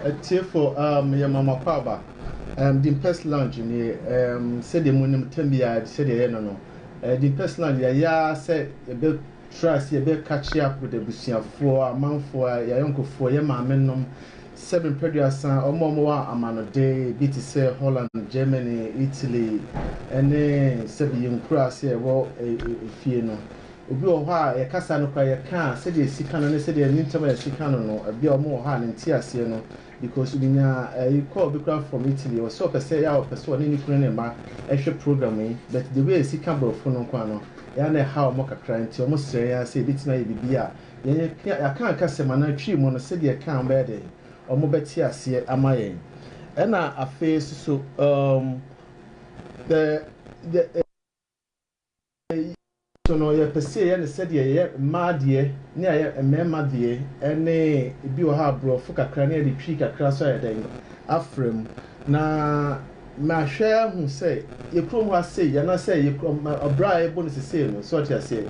Atiefo, um, meyɛ Mama Kwaba. Um, Dimpes Lounge nie, um, sɛdeɛ mo nim tam biara sɛdeɛ ɛyɛ no no. Uh, Dimpes Lounge yɛayɛ ara sɛ yɛbɛtra ase, yɛbɛka kye akɔda abusuafoɔ, amanfoɔ, yɛayɔnkofoɔ, yɛ maame nom, sɛ mepɛduasa, ɔmo ɔmo wɔ amanɔde, bi te sɛ Holland, Germany, Italy, ɛne sɛbi yɛn nkuraase a ɛwɔ eh, eh, fie no. Ebi wɔ hɔ a, yɛkasa no koraa yɛka a, sɛdeɛ ɛsi ka no ne sɛdeɛ yɛn ntam a yɛsi ka no no, ebi a wɔn wɔ hɔ a ne nteaseɛ no, because menyaa ɛyi call bi koraa from Italy, ɔse ɔpɛ sɛ ɛyɛ a ɔpɛ sɛ ɔne ne kunu ne ne mma ɛhwɛ program yi, but the way a yɛsi ka borɔfo no nko ara no, ɛyɛ a na ɛhaw wɔn kakra, nti wɔn srɛ yɛn ara sɛ yɛbɛtumi ayɛ biribi a yɛn yɛaka anka asɛm anaa Twi mu no, sɛdeɛ ɛka a wɔn bɛyɛ dɛn? Wɔn bɛte aseɛ ama yɛn. Ɛna afei nso so, um, the, the, Yei so no, yɛpɛ sɛ yɛyɛ no sɛdeɛ yɛyɛ mmaa deɛ ne ayɛ mmarima deɛ ɛne ebi wɔ hɔ a borɔfo kakra ne yɛde twi kakra so ayɛ dɛn afra mu na mahwɛ ahu sɛ yɛ kurom hɔ a sei anaasɛ yɛ kurom ɔbra a yɛbɔ no sesei no so ɔte aseɛ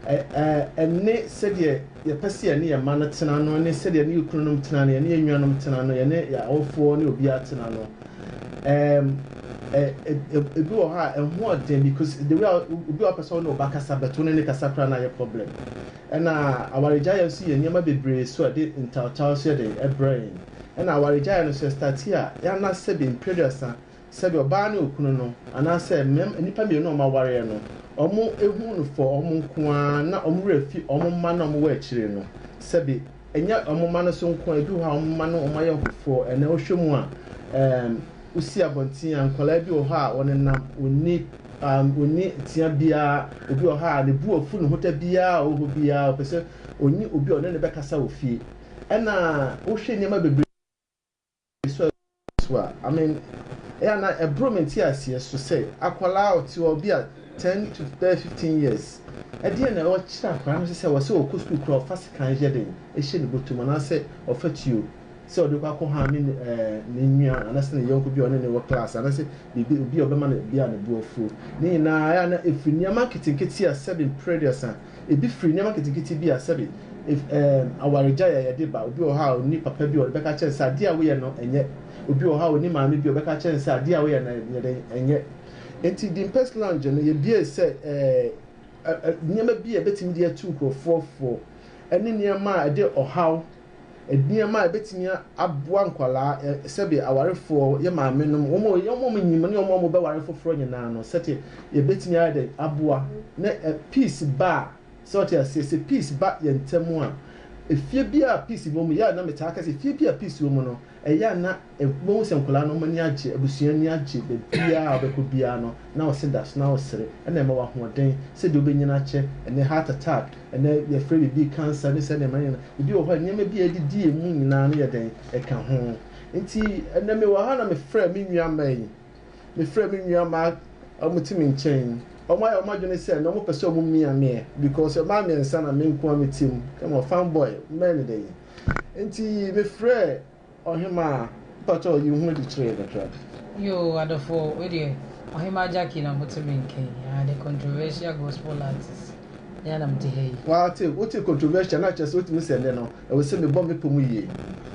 ɛ ɛ ɛne sɛdeɛ yɛpɛ sɛ yɛne yɛn mma no tena no ne sɛdeɛ yɛne yɛ kununom tena no yɛne yɛn nuanom tena no yɛne yɛ awofoɔ ne obiara tena no Ɛɛm, ɛ, ɛ, ɛ, ebi wɔ hɔ a ɛho yɛ den because the way a obi a ɔpɛ sɛ ɔne wo ba kasa bɛto ne ne kasa koraa no ayɛ problem. Ɛna awaregyaeɛ nso yɛ nneɛma bebree so a ɛde ntawtaw nso yɛ den ɛbrɛ yɛn. Ɛna awaregyaeɛ no nso ɛstate a yɛanna sɛbe mpere aduasa sɛbe ɔbaa ne okunu no anaasɛ mmɛm, nnipa mmienu a wɔawareɛ no wɔn ehu no for wɔn nko ara na wɔn werɛ fi wɔn mma no a wɔwɔ akyire no sɛbe Ɛnyɛ wɔn mma no so nko a, ebi wɔ hɔ a wɔn mma no wɔayɛ nkorɔfoɔ. Ɛnnɛ wohwɛ mu a, um, wosi abɔnten a, nkwadaa bi wɔ hɔ a wɔnenam, wɔnni, um, wɔnni tea biara. Obi wɔ hɔ a ne bo afu, ne ho da biara a ɔwɔ hɔ biara ɔpɛ sɛ ɔnyi obi a ɔne no bɛkasa wɔ fie. Ɛna wohwɛ nneɛma bebree. Suasua Yesu a, I mean, ɛyɛ a na ɛboro me nteaseɛ so sɛ akwadaa a ɔte hɔ bi a ten to bɛyɛ fifteen years, ɛdeɛn na ɔkyerɛ akwadaa no sɛ sɛ ɔsɛ ɔkɔ sukuu koraa ɔfa sekan yɛ dɛn hyɛ ne bɔtɔ mu anaasɛ ɔfa tuo sɛ ɔde kɔ akɔ hame ne ɛɛ ne nua anaasɛ ne yɔnko bi a ɔne ne wɔ class anaasɛ biribi obi a ɔbɛma no bi a ne bo afuo ne nyinaa ɛyɛ a na ɛfiri nneɛma nketenkete a sɛbi mprɛduasa Ebi firi nneɛma nketenkete bi a sɛbe ef, ɛɛm, awaregyae a yɛde ba. Obi wɔ hɔ a onni papa bi a ɔde bɛka akyerɛ no sɛ adeɛ a woyɛ no nyɛ. Obi wɔ hɔ a onni maame bi a ɔbɛka akyerɛ no sɛ adeɛ a woyɛ no yɛ dɛn? Ɛnyɛ. Enti Dimpes Lounge no, yɛbuee sɛ ɛɛ, ɛ, ɛ, nneɛma bi a yɛbɛtumi de atu nkurɔfoɔ fo ne nneɛma a ɛde ɔhaw Nneɛma a ɛbɛtumi aboa nkwadaa, sɛdeɛ awarefoɔ, yɛ maame nom, wɔn a wɔn a wɔnyim ne wɔn a wɔbɛware foforɔ nyinaa no, sɛdeɛ yɛbɛtumi ayɛ dɛn aboa na peace ba a, sɛ ɔte aseɛ, sɛ peace ba yɛn ntam a, efie bi a peace wɔ mu, yɛ a na metaa ka sɛ, efie bi a peace wɔ mu no, Ɛyɛ a na wobɛhu sɛ nkwadaa no wɔn ani agye, abusua ani agye, baabiara a wobɛkɔ biara no na wo se da so na wosere, ɛna ɛma wo ahoɔden sɛdeɛ wobɛnyini akyɛ, ɛnnɛ heart attack, ɛnnɛ yɛfrɛ biribi cancer ne saa nneɛma no nyinaa, ebi wɔ hɔ a nneɛma bi a ɛdidi yɛn mu nyinaa no yɛ dɛn? Ɛka ho. Nti ɛnnɛ mewɔ ha na mefrɛɛ me nuammaa yi, mefrɛɛ me nuammaa a wɔte me nkyɛn yi, wɔayɛ wɔn adwene sɛ ɛnnɛ wɔpɛ sɛ wɔmia meɛ because mmaa mmiɛnsa na me nko ara mete mu, come on fine boy, mɛyɛ no dɛn? Nti mefrɛɛ ɔhemaa mpakyɛw yi ho adi kyerɛɛ no hwɛ. Yoo adɔfo wei deɛ ɔhemaa Jackie na mote me nka yi aa the controversial gospel artist me ara na mete ha yi. Wate wote controversial no a kyerɛ sɛ wotumi sɛ ɛnnɛ no ɛwɔ sɛ mebɔ me pɔ mu yie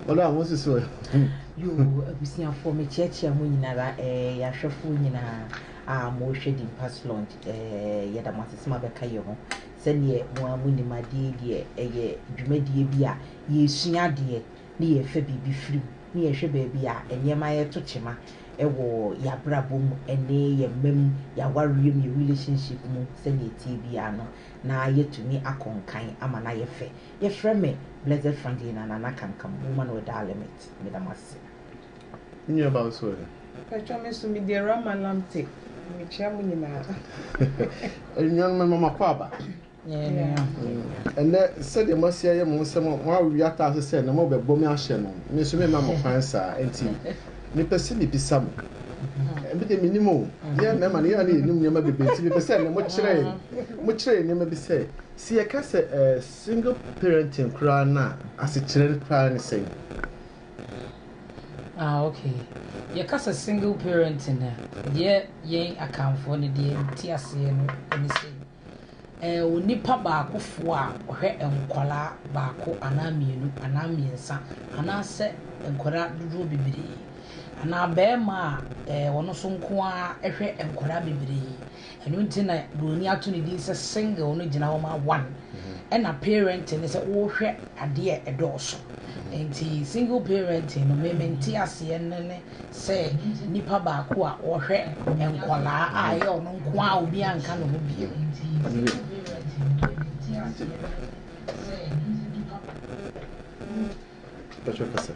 wɔn a wɔnsusu ɛ. Yoo abusuafoɔ mekyeakyea mo nyinara ɛɛ yɛahwɛfoɔ nyinaa aa mo hwɛ Dimpas Lounge ɛɛ yɛda mo ase sɛ moabɛka yɛ ho Sɛdeɛ mo ara monim adeɛ deɛ ɛyɛ dwumadie bi a yɛresua adeɛ ne yɛrefa biribi firi mu ne yɛrehwɛ baabi a nneɛma reto kyema wɔ yɛn abrabɔ mu ne yɛn mma mu, yɛn awareɛ mu, yɛn relationship mu sɛdeɛ ɛteɛ biara no na yɛatumi akɔ nkan ama no ayɛ fɛ. Yɛfrɛ me Blessed Franklin Anana Kamkam, Woman Without Limit. Meda mo ase. Nuabaa nso ɛ? Mpakyɛw me nso mede Rama lam te mekyia mo nyinaa. Anuanom mema mo akwaaba. Ɛnɛ sɛdeɛ moasi ayɛ mo ho sɛ moawe ataase sɛ na mobɛbɔ me ahyɛ no, me nso memma mo kwan saa. Enti mepɛ sɛ mebisa mo, me deɛ mennim o, yɛn mmarima no yɛn a na yɛnim nneɛma bebree nti mepɛ sɛ ɛnnɛ mokyerɛ yɛn, mokyerɛ yɛn nneɛma bi sɛ, sɛ yɛka sɛ single parenting koraa no a, asekyerɛ no koraa ne sɛn? Ah okay, yɛka sɛ single parenting a, deɛ yɛn Akanfoɔ no deɛ yɛnte aseɛ no ne sɛ, ɛyɛ onipa baakofoɔ a ɔhwɛ nkwadaa baako anaa mmienu anaa mmiɛnsa anaasɛ nkwadaa dodoɔ bebree. Anaa barima a ɔno nso nko ara hwɛ nkwadaa bebree. Ɛno nti na buroni ato ne din sɛ single no gyina hɔ ma one ɛna parenting ne sɛ wohwɛ adeɛ a ɛdɔɔso nti single parenting no me mente aseɛ no ne sɛ nipa baako a ɔhwɛ nkɔlaa a ɛyɛ ɔno nko a obi anka ne ho bio Bɛtwerɛ kasa.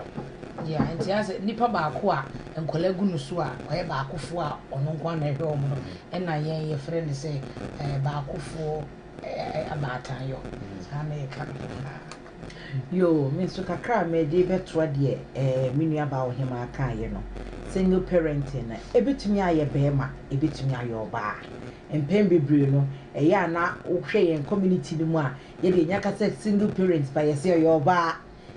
Yeah, nti asɛ nipa baako a nkwadaa gu no so a ɔyɛ baakofoɔ a ɔno nko ara na ɛhwɛ wɔn no ɛna yɛn yɛfrɛ no sɛ ɛɛ baakofoɔ ɛɛ abaatanyɔ saa na yɛka no nyinaa. Yoo, me nso kakra a mede bɛtoa deɛ ɛɛ me nua baa ɔhemaa kaeɛ no, single parenting no ɛbɛtumi ayɛ barima ɛbɛtumi ayɛ ɔbaa. Mpɛn bebree no ɛyɛ a na wohwɛ yɛn community no mu a yɛ deɛ yɛka sɛ single parent but yɛse ɔyɛ ɔbaa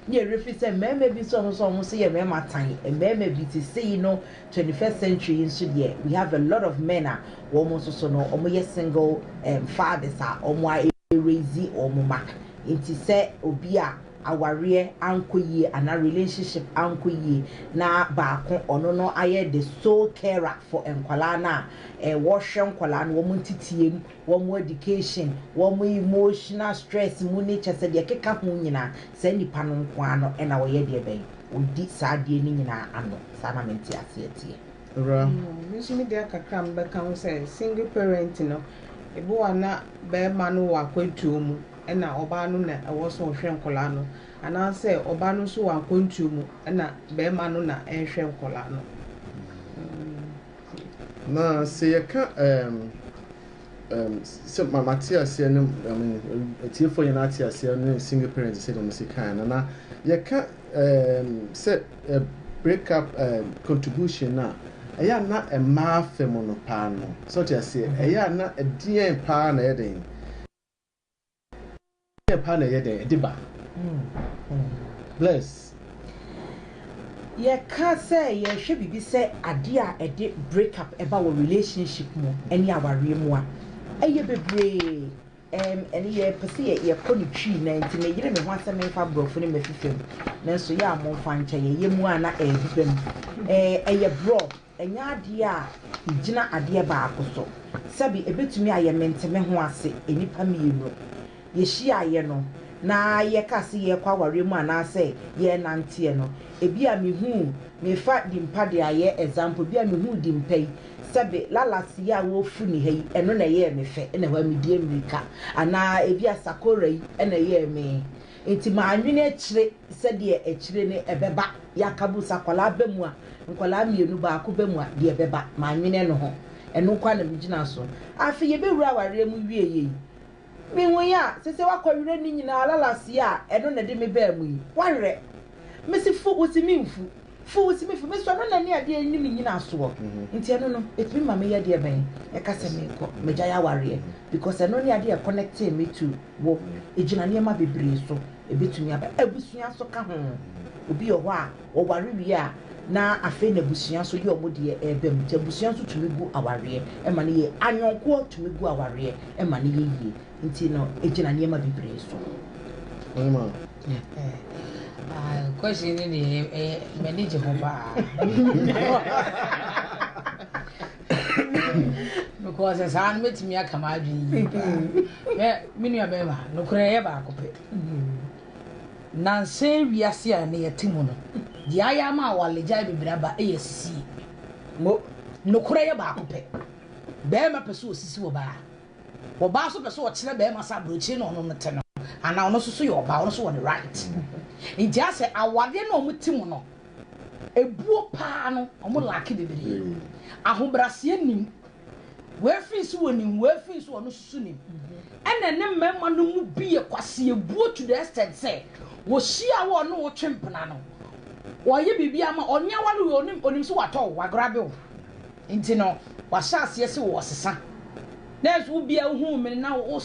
ne yɛwerɛ firi sɛ mmarima bi nso ɔmo nso ɔmo nso yɛ mmarima tan mmarima bi te sei no 21st century yi nso deɛ we have a lot of men a wɔn nso so no ɔmo yɛ single um, fathers a ɔmo a raise ɔmo ma nti sɛ obi a awareɛ ankɔ yie anaa relationship ankɔ yie na baako ɔno no ayɛ the sole carer for nkwadaa no a eh, wɔhwɛ nkwadaa no wɔn nteteam wɔn education, wɔn emotional stress mu ne kyɛ sɛ deɛ ɛkeka ho nyinaa, saa nnipa no nko ara no na wɔyɛ deɛ bɛn? Wɔdi saa adeɛ no nyinaa ano. Saa na me nteaseɛ teɛ. Owura. Me nso me deɛ kakra a mebɛka ho sɛ, single parent no, ɛbi wɔ a na barima no wɔ akwantuo mu ɛna ɔbaa no na ɛwɔ sɛ ɔhwɛ nkwadaa no, anaasɛ ɔbaa no nso wɔ akwantuo mu ɛna barima no na ɛrehwɛ nkwadaa no. Na sɛ yɛka ɛɛm ɛɛm sɛ ma ma te aseɛ ne ɛɛm atiefoɔ nyinaa ate aseɛ ne single parents sɛ deɛ mo si kan no na yɛka ɛɛm sɛ ɛ break up ɛɛm contribution no a ɛyɛ a na mmaa fam no paa no sɛ ɔte aseɛ ɛyɛ a na ɛdeɛn paa na ɛyɛ den. Ɛdeɛn paa na ɛyɛ dɛn ɛde ba? Bless. Yɛka sɛ yɛhwɛ biribi sɛ adeɛ a ɛde break up ɛba wɔ relationship mu ɛne awareɛ mu a, ɛyɛ bebree. Ɛm ɛne yɛpɛ sɛ yɛ yɛkɔ ne twii na nti me yere me ho asɛm mfa borɔfo no mɛfifam nanso yɛ a momfa nkyɛ yɛ yɛ mu a na ɛɛbeba mu. Ɛɛ ɛyɛ borɔ. Ɛnyɛ adeɛ a ɛgyina adeɛ baako so. Sɛbe ɛbɛtumi ayɛ mentemeho ase nnipa mmienu. Yɛhyiaeɛ no, na yɛka se yɛrekɔ awareɛ mu anaasɛ yɛrenanteɛ no, ɛbi a mehuu, mefa Dimpa de ayɛ example, ɛbi a mehuu Dimpa yi, sɛbe Lalas yi a wɔrefu ne ha yi, ɛno na ɛyɛɛ me fɛ, na ɛhɔ a medie mmirika. Anaa ɛbi a Sakora yi na ɛyɛɛ me. Nti manwene akyire. Sɛdeɛ akyire no ɛbɛba, Yakabu sɛ akwadaa ba mu a, nkwadaa mmienu, baako ba mu a, deɛ ɛbɛba. Mannwene ɛno ho. Ɛno nko ara na megyina so. Afei yɛbɛwura awareɛ mu wieeɛ yi, mehuui a, sese woakɔwerɛ ne nyinaa, lalaseɛ a ɛno na ɛde me baa mu yi, woawerɛ? Mese fu, wose memfu. Fi wo simi fi me so, ɛno na ɛne adeɛ ɛne me nnyinasoɔ, nti ɛno no, ɛtumi ma meyɛ deɛ bɛn? Ɛka sɛ menkɔ m'agyae awareɛ, because ɛno ne adeɛ a ɛconnectee me to wo, ɛgyina nneɛma bebree so, ɛbɛtumi aba abusua nso ka ho, obi wɔ hɔ a wɔware wie a na afei na abusua nso yɛ wɔn deɛ ɛreba mu, nti abusua nso tumi gu awareɛ ma no yie, ayɔnkoɔ tumi gu awareɛ ma no yɛ yie. Nti no egyina nneɛma bebree so. Ɔyɛ ma. Ah, question no deɛ ɛyɛ eh, eh, m'ani gye ho paa. Because saa no mɛtumi aka m'adwene yie paa. Mɛ me nua bɛrima nokorɛ ɛyɛ baako pɛ. Nansa wiase a na yɛte mu no, deɛ ayɛ ama awaregyae bebree aba ɛyɛ sisie. Nokorɛ yɛ baako pɛ. Bɛrima pɛ sɛ ɔsisi wɔ baa. Ɔbaa nso pɛ sɛ ɔkyerɛ bɛɛma sɛ aburokyire na ɔno no te no anaa ɔno nso so yɛ ɔbaa ɔno nso wɔ ne right nti asɛ awareɛ na ɔmo te mu no ebuo paa no ɔmo laake bebree ahobraseɛ nim wɛfiri nso wɔ nim wɛfiri nso ɔno nso so nim ɛna ne mmarima no mu bi yɛ kwasi ebuo to the extent sɛ wɔhyia wɔ ɔno wɔtwe mpena no wɔyɛ biribi ama ɔnyɛ wale wɔ onim onim so watɔ wagrabe wɔ. Nti no wahyɛ aseɛ se wo ɔsesa nanso wo bia wo huu mene na wo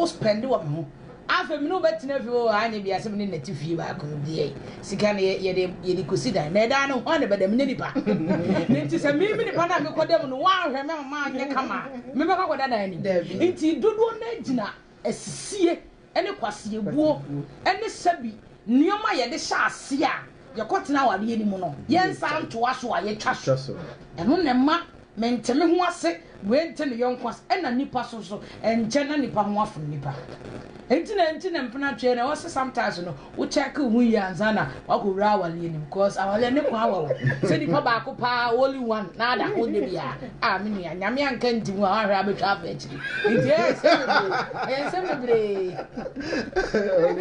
spɛnde wɔ me ho afei mene wo bɛ tena fie oo anyɛ bia se mene nɛte fie baako deɛ sika no yɛde yɛde kosi dan na ɛdan no hwan na bɛda menyɛ nipa na nti sɛ mimi nipa na mekɔ da mu no wanhwɛ me ama anyɛ kama mebɛkɔ akɔda dan anim nti dodoɔ no agyina asisie ne kwaseɛbuo ne sɛbi nnoɔma a yɛde hyɛ aseɛ a yɛkɔtena awadeɛ no mu no yɛnsan ntoa so a yɛtwa so. Ɛno na ɛma mente me ho ase, wei nte ne yɔnko ase, ɛna nnipa so nso ɛnkyɛ na nnipa ho afom nnipa. Enti na enti na mpenatweɛ no ɛwɔ sɛ sometimes no wo check wo ho yie ansa na wakɔ wura awaleɛ nim cause awaleɛ ne kwan wɔ hɔ sɛ nipa baako paa only one na ada ho nyɛ biara a me nua nyame anka nti mu a wahwɛ abɛtwa afɛ akyiri nti ɛyɛ nsɛm bebree ɛyɛ nsɛm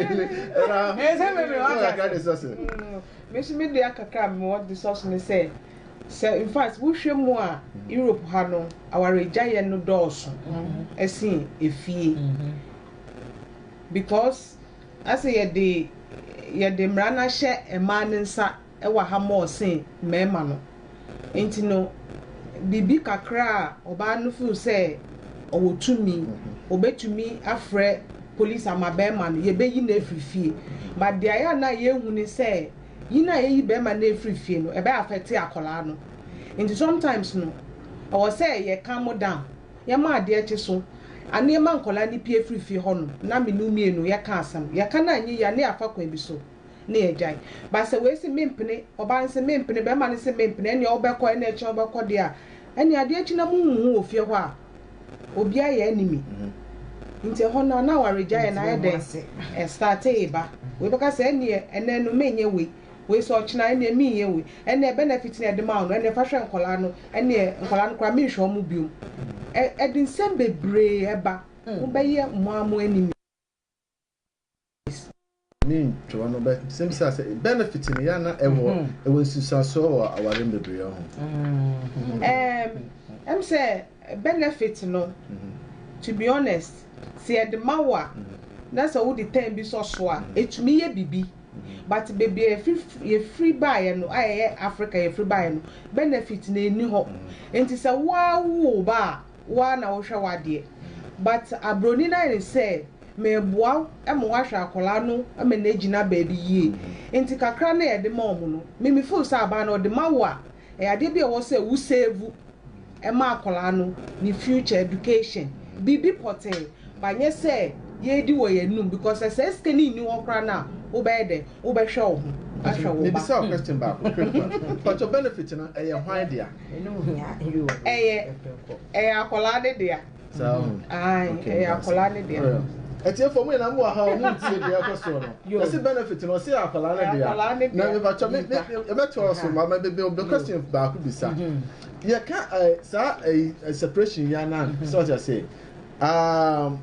bebree ɛyɛ nsɛm bebree wata ase mesi me deɛ kakra a mewɔ de sɔ so ne sɛ sɛ in fact wohwɛ mu a mm-hmm. europe ha no awaregyaeɛ no dɔɔso ɛsen mm-hmm. efie mm-hmm. because Na sɛ yɛde yɛde mmara no ahyɛ mmaa no nsa wɔ ha more sen mmarima no nti no, biribi kakra a ɔbaa no feel sɛ ɔwɔ tumi, ɔbɛtumi afrɛ police ama barima no, yɛbɛyi no afiri fie. But deɛ ayɛ a na yɛhu ne sɛ, yi no a yɛyi barima no afiri fie no, ɛbɛ affect akwadaa no. Nti sometimes no, ɛwɔ sɛ yɛcalm down. Yɛma adeɛ kye so anneɛ ma nkwadaa no pue firi fie hɔ nom na me ne wo mmienu yɛka asɛm. Yɛka no anyɛ yie a, na yɛafa kwan bi so na yɛagyae. But sɛ wei se mempene, ɔbaa no se mempene, barima no se mempene, ɛnneɛ wobɛkɔ, ɛnna ɛkyena wobɛkɔ deɛ a, ɛnneɛ adeɛ kye na monhu ho wɔ fie hɔ a, obiara yɛ enemy. Nti ɛhɔ no a, na awaregyaeɛ no ayɛ dɛ, ɛstartee ba. Wei bɛka sɛ ɛnneɛ ɛnnɛ no menyɛ wei. wei sɛ ɔkyena ɛneɛ menyɛ wei ɛneɛ benefit no a yɛde ma wo no ɛneɛ fa hwɛ nkwadaa no ɛneɛ nkwadaa no koraa menhwɛ wɔn biom ɛ ɛde nsɛm bebree ɛba mobɛyɛ mo ara mo enemies. ne ntwerɛ no bɛ sɛ bisa sɛ benefit no yɛ a na ɛwɔ ɛwɔ nsusuasoɔ wɔ awareɛ mu bebree ho. Ɛɛm ɛm sɛ Benefit no to be honest sɛ yɛde ma wo a na sɛ wode time bi sɔ so a ɛtumi yɛ biribi but baabi a yɛfiri baeɛ no a ɛyɛ Africa yɛfiri baeɛ no benefit no ɛnni hɔ nti sɛ wo ara wo wo ba a wo ara na wohwɛ w'adeɛ but abroni no ayɛ no sɛ meboa wo ma woahwɛ akwadaa no ma no agyina baabi yie nti kakra no a yɛde ma wɔn no me me feel sɛ abaa no ɔde ma wo a Ɛyɛ adeɛ bi a ɛwɔ sɛ wo save ma akwadaa no ne future education. Biribi pɔtee but nyɛ sɛ yɛredi wɔ yɛn anum because sɛ saa sika no nni hɔ koraa no a wobɛyɛ dɛn? Wobɛhwɛ wo ho ahwɛ wo ba. Mebisa wo question baako quick one. Mpakyɛw benefit no ɛyɛ hwan dea? Ɛyɛ ɛyɛ akwadaa no dea. saa ho ɛyɛ akwadaa ne deɛ ɛtiɛfoɔ mu nyinaa mu wɔ ha a wɔn ntie deɛ ɛkɔ soɔ no yɛsi benefit no ɔsi akwadaa ne deɛ na mipatwa mi mi ɛbɛtɔ ɔso ma ma bebe obe question baako bisa yɛ ka ɛɛ saa ɛɛ separation yɛ anan sɛ ɔte ase um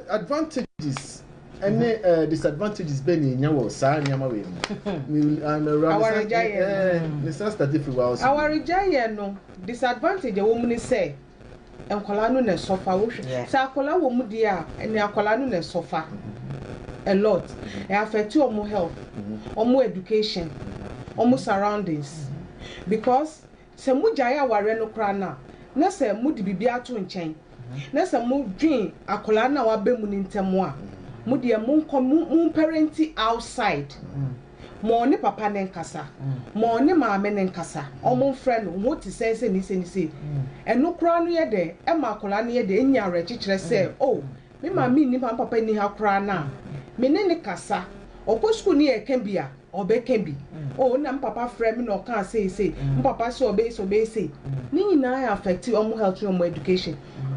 advantages ɛne ɛɛ disadvantages bɛ na enya wɔ saa nneɛma wɔ emu mi ɛɛ awaregya yɛ ɛɛ ne sɛ start firi wa ɔso awaregya yɛ no disadvantage ɛwɔ mu ne sɛ. nkwadaa no na ɛsɔ fa wohwɛ sɛ akwadaa wɔ mu deɛ a ɛnna akwadaa no na ɛsɔ fa a lot ɛ affect wɔn health wɔn education wɔn surroundings because sɛ mo gyae awareɛ no koraa no a na sɛ mo de biribi ato nkyɛn na sɛ mo dwen akwadaa no a waba mu no ntɛm a mo deɛ mo nkɔ mo parenti outside. Ma ɔne papa no nkasa. Ma ɔne maame no nkasa. Wɔmfrɛ no. Ho te sɛn sɛ nise ne sei? Ɛno koraa no yɛ dɛn? Ɛma akwadaa no yɛ dɛn? Enya awerɛkyekyerɛ sɛ, Oh, me maame nni ha, me papa nni ha koraa no a, me ne no kasa. Ɔkɔ sukuu no yɛreka bi a, ɔbɛka bi. Oh, nna me papa frɛɛ me na ɔkaa sei sei. Me papa se ɔbɛyɛ sei, ɔbɛyɛ sei. Ne nyinaa affect wɔn health ne wɔn education.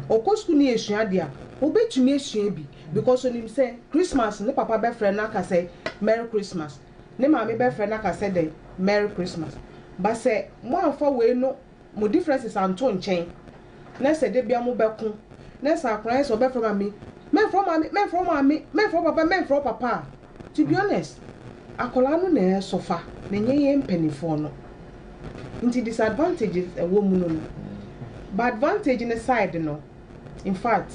Ɔkɔ sukuu no yɛsua adeɛ a, obetumi asua bi. Because onim sɛ Christmas ne papa bɛfrɛ no aka sɛ Merry Christmas, ne maame bɛfrɛ no aka sɛ dɛn? Merry Christmas. But sɛ moamfa wei no mo differences anto nkyɛn na sɛ da biara mobɛko na sɛ akwadaa no sɛ ɔbɛfrɛ maame, mɛmfrɛ wo maame, mɛmfrɛ wo maame, mɛmfrɛ wo papa, mɛmfrɛ wo papa a, to be honest, akwadaa no na ɛresɔfa na ɛnyɛ yɛn mpanimfoɔ no. Nti disadvantages a ɛwɔ mu no no, ba advantage no side no, in fact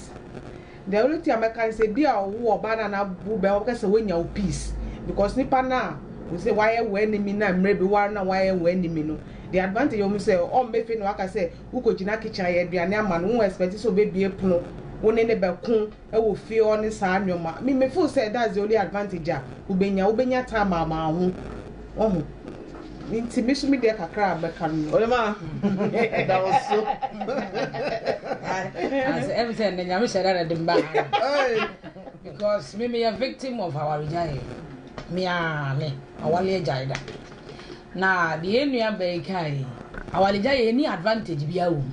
the only thing a mɛka ne sɛ bi a ɔwo ɔbaa na na wo bɛma bɛka sɛ woanya wo peace because nipa no a wo sɛ wayɛ wo enemy na mmerɛ bi ware na wayɛ wo enemy no the advantage wɔn sɛ ɔmmɛfe na waka sɛ wokɔgyina kitchen ayɛ aduane ama no wo expect sɛ ɔbɛbie pono wo ne ne bɛko wɔ fie ɔ ne saa nneɛma me me feel sɛ that's the only advantage a wobɛnya wobɛnya time ama ho ɔho Nti me nso me deɛ kakra a mɛka no no. Ɔyɛ ma ɛda wo so. Asɛ ɛmu sɛ ɛnna nyame hyɛ dɛ na de mba because me meyɛ victim of awaregyaeɛ meaa me awale agyae da na deɛ nnua bɛyi kae awaregyaeɛ ɛni advantage bi awom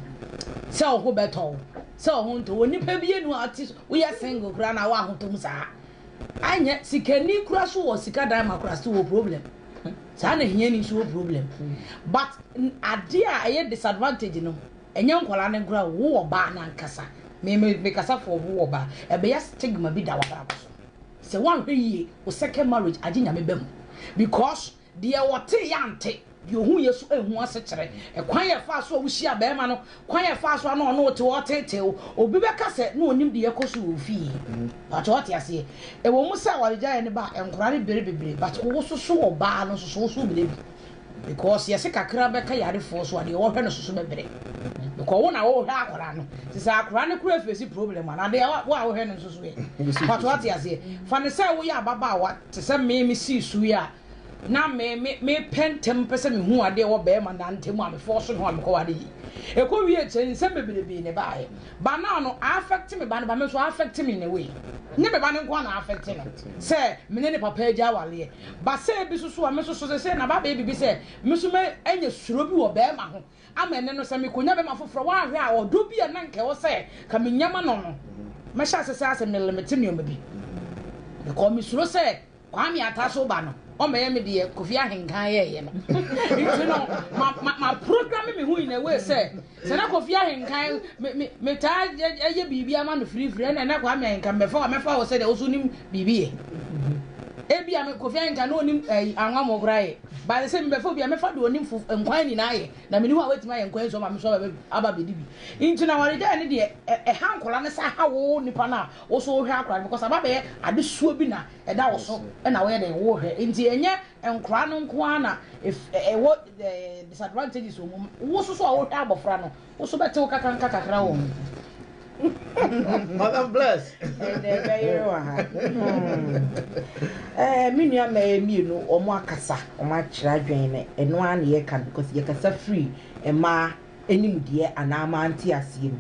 sɛ ɔho bɛtɔ wo sɛ ɔho ntɔ wɔ nipa bi enu ati woyɛ single koraa na woahotɔ mu saa Anyɛ sikani kura so wɔ sika dan ma kura still wɔ problem saa na hiani nso wɔ problem but adeɛ a ɛyɛ disadvantage no ɛnyɛ nkwadaa no nkura wo wɔ baa no ankasa me me me kasa for wo wɔ baa ɛbɛyɛ stigma bi da wɔ abrabɔ so sɛ wɔanhwɛ yie wo second marriage agye nyame bɛ mu because Deɛ ɔteeɛ ante, deɛ ɔhuiɛ so anhu asekyerɛ. Ɛkwan a ɛfaa so a wohyiaa barima no, kwan a ɛfaa so a na ɔne wo te hɔ reteetee wo. Obi bɛka sɛ na ɔnim deɛ ɛrekɔ so wɔ wo fie. But wote aseɛ? Ɛwɔ mu sɛ awaregyaeɛ no ba a, nkwadaa no bere bebree, but wososo ɔbaa no nso so, woso wo berɛ bi. Because yɛse kakra bɛka yarefoɔ so a, deɛ ɔhwɛ no nso so bɛbrɛ. Because wo na wohwɛ akwadaa no. Nti sɛ akwadaa no koraa face problem a, na deɛ wo a wohwɛ no nso so ɛ? But wote aseɛ? Fa no sɛ woyɛ ababaawa. Te sɛ me, misii so yi a, na me, me, mepɛ ntɛm pɛ sɛ mehu ade a ɛwɔ barima nã ntam a mefɔɔ so ne ho a mekɔware yi. Ɛkɔwiee kyɛ, nsɛm bebrebee na ɛbaeɛ. Ba nã no, aafɛkte me ba no, ba me nso, aafɛkte me in a way. Nyɛ me ba no nko ara na aafɛkte no, sɛ me ne ne papa agya awareɛ. Ba sɛ bi nso so a, me nso so seesei na aba abɛyɛ biribi sɛ me nso mɛ, anya suro bi wɔ barima ho. Ama ɛnnɛ no, sɛ mikonya bɛma foforɔ, woanhwɛ a, ɔdɔ bi a na anka ɛwɔ sɛ ka menya ma no no, mɛhyɛ ase sɛ asɛ melimite nneɛma bi. Because mesuro sɛ Kwame Atta so ba no, ɔmmɛyɛ me deɛ Kofi Ahenkan yɛeɛ no. Nti no, ma, ma, ma programme me ho in a way sɛ, sɛ na Kofi Ahenkan, me, me, metaa yɛ biribi ama no firifiri, ɛna ɛnɛ Kwame Ahenkan mɛfa wo, mɛfa wo sɛdeɛ wo nso wonim biribi yɛ. Ebia me Kofi Ahenkan na ɔnim ɛyi, anwa mo koraa yɛ. Ba no sɛ, Mebɛfa obi a mɛfa deɛ ɔnim fo nkwan nyinaa ayɛ, na menni hɔ a w'atumi ayɛ nkwan nsuo ama me nso aba aba abɛdi bi. Nti na awaregyaeɛ no deɛ ɛ ɛha nkwadaa no saa ha wo nipa no a wo nso wohwɛ akwadaa no because aba abɛyɛ adesoa bi na ɛda wo so na woyɛ dɛn wohwɛ. Nti ɛnyɛ nkwadaa no nko ara na ɛ ɛwɔ ɛ disadvantages wɔ mu, wo nso so a wohwɛ abɔfra no Wo nso bɛte wo kakra nka kakra wɔ ho. Madam Bless. Ɛnna ɛbɛyere wɔ ha. Ɛɛ hmm. me nua mmaa mmienu wɔn akasa wɔn akyerɛ adwene no ɛno ara na yɛka no because yɛkasa firi mmaa anim deɛ anaa mmaa nte aseɛ mu.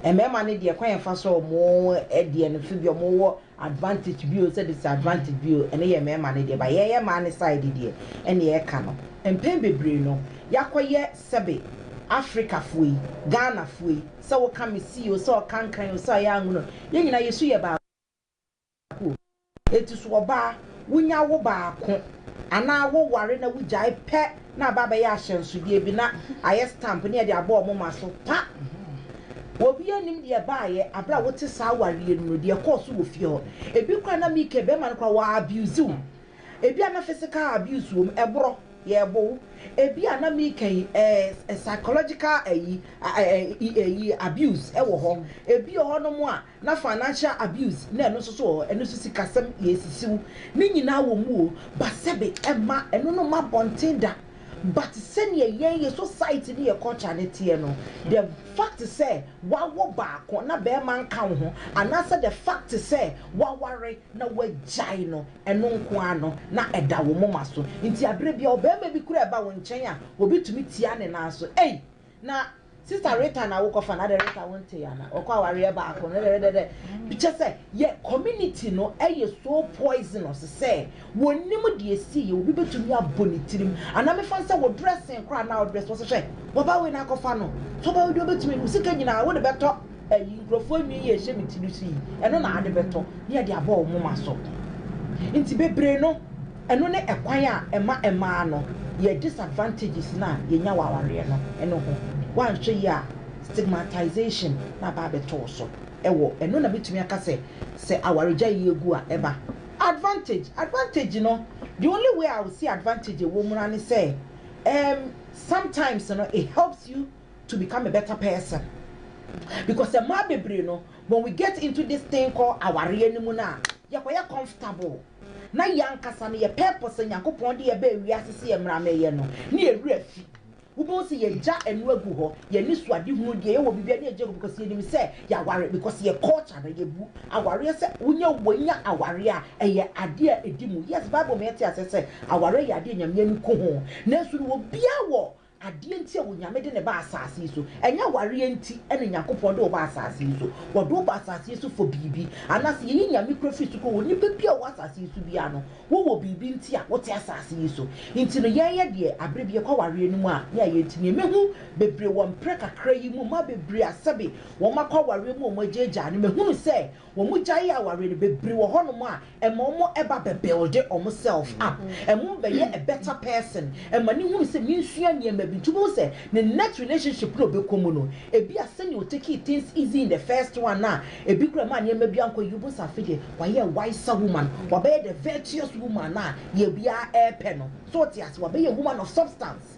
Mmarima no deɛ kwan yɛn fa so wɔn deɛ no so bi wɔn wɔ advantage bi o sɛ disadvantage bi o ɛno yɛ mmarima no deɛ ba yɛyɛ mmaa no side deɛ ɛna yɛka no mpɛn bebree no yɛakɔyɛ Sɛbe, Afrikafoɔ yi, Ghanafoɔ yi, sɛ woka Mesi o, sɛ ɔka Nkran o, sɛ ɔyɛ Angola o, yɛn nyinaa yɛsu yɛ baako o. Enti so ɔbaa, wonya wo baako anaa woware na wogyae pɛ na aba abɛyɛ ahyɛnsodeɛ bi na ayɛ stamp na yɛde abɔ wɔn ma so? Pa! Obiara nnim deɛ ɛbaeɛ berɛ a wote saa awareɛ no mu no, deɛ ɛkɔɔ so wɔ fie hɔ. Ebi koraa na Mike, barima no koraa, wɔ abuse wo. Ebia na physical abuse wom, ɛborɔ, yɛrebo wo. Ebia na meka yi ɛɛ psychological ayi ayi abuse ɛwɔ hɔ. Ebi wɔ hɔnom a na financial abuse na ɛno nso so wɔ hɔ, ɛno nso sikasɛm yɛresisi wo. Ne nyinaa wɔ mu o, but sɛbe ɛmma ɛno no mma abɔnten da. But sɛdeɛ yɛn yɛ society ne yɛ culture no teɛ no, the fact sɛ woawo baako na barima nka wo ho anaasɛ the fact sɛ woaware na woagyae no Ɛno nko ara no, na ɛda wo moma so. Enti bere bi, ɔbarima bi kura ba wo nkyɛn a, obi tumi tia ne nan so. Ei! Na Sista Rita na wokɔfa no adɛn? Rita, wontee ana? Wɔkɔ awareɛ baako no, dɛdɛdɛdɛ. Kyerɛ sɛ, yɛ community no yɛ so poisonous sɛ wɔnnim deɛ ɛsiiɛ. Obi bɛtumi abɔ ne tirim. Anaa mefa no sɛ wo dressing koraa a na wo dress, wɔse hwɛ, w'aba wei no akɔfa no. So ɔba wei deɛ ɔbɛtumi, wo sika nyinaa wode bɛtɔ Ayi, nkurɔfoɔ nwi yi a ɛhyɛ me ti no so yi, ɛno na ade bɛtɔ na yɛde abɔ wo moma so. Nti bebree no, ɛno ne ɛkwan a ɛma mmaa no yɛ disadvantages no a yɛnya wɔ awareɛ no ɛno ho. Woanhwɛ yie a, stigmatization na aba abɛto wo so wɔ ɛno na mɛtumi aka sɛ, sɛ awaregyaeɛ agu a ɛba. Advantage, advantage no, the only way I will see advantage ɛwɔ mu ara ne sɛ, um, sometimes no it helps you, to become a better person because mmaa bebree no when we get into this thing called awareɛ no mu no a yɛkɔyɛ comfortable na yɛn ankasa no yɛ purpose a Nyankopɔn de yɛ bɛɛ wiase sɛ yɛ mmara mɛyɛ no ne yɛ werɛ fi wobɛhu sɛ yɛgya ɛno agu hɔ yɛn ani so ade hunu deɛ yɛwɔ biribiara ne yɛgya gu because yɛnim sɛ yɛaware because yɛ culture no yɛbu awareɛ sɛ wonya wɔnya awareɛ a ɛyɛ adeɛ a ɛdi mu yes Bible ma yɛte aseɛ sɛ awareɛ yɛ adeɛ a Nyame ani ku ho nanso no obiara wɔ Adeɛ nti a Onyame de no baa asaase yi so? Ɛnyɛ awareɛ nti na Nyankopɔn de wo baa asaase yi so. Wɔde wo baa asaase yi so for biribi. Anaase yɛyi Nyame kura firi so kura wo? Nipa biaa a ɔwɔ asaase yi so biaa no, wo wɔ biribi nti a wote asaase yi so. Nti no yɛɛyɛ deɛ aberɛ bi yɛkɔ awareɛ no mu a ne ayɛ nti. Neɛ mehu bebree wɔ mprɛ kakra yi mu, mmaa bebree a sɛbe wɔn akɔ awareɛ mu a wɔn agyaagyaa no, mehunu sɛ Wɔgyae aware no, bebree wɔ hɔnom a ɛma wɔba bɛ build wɔn self up, ɛma wɔbɛyɛ a better person, ɛma no hunu sɛ mensua nneɛma bi, nti wobɛhu sɛ ne next relationship no a ɔbɛkɔ mu no ebia sɛnea ɔ takee things easy in the first one no a ɛbi koraa ɛmaa nneɛma bi ankɔ yie, wobɛhu sɛ afei deɛ wayɛ a wiser woman, wabɛyɛ the virtuous woman a yɛ biara ɛrepɛ no, so wote aseɛ? Wabɛyɛ woman of substance.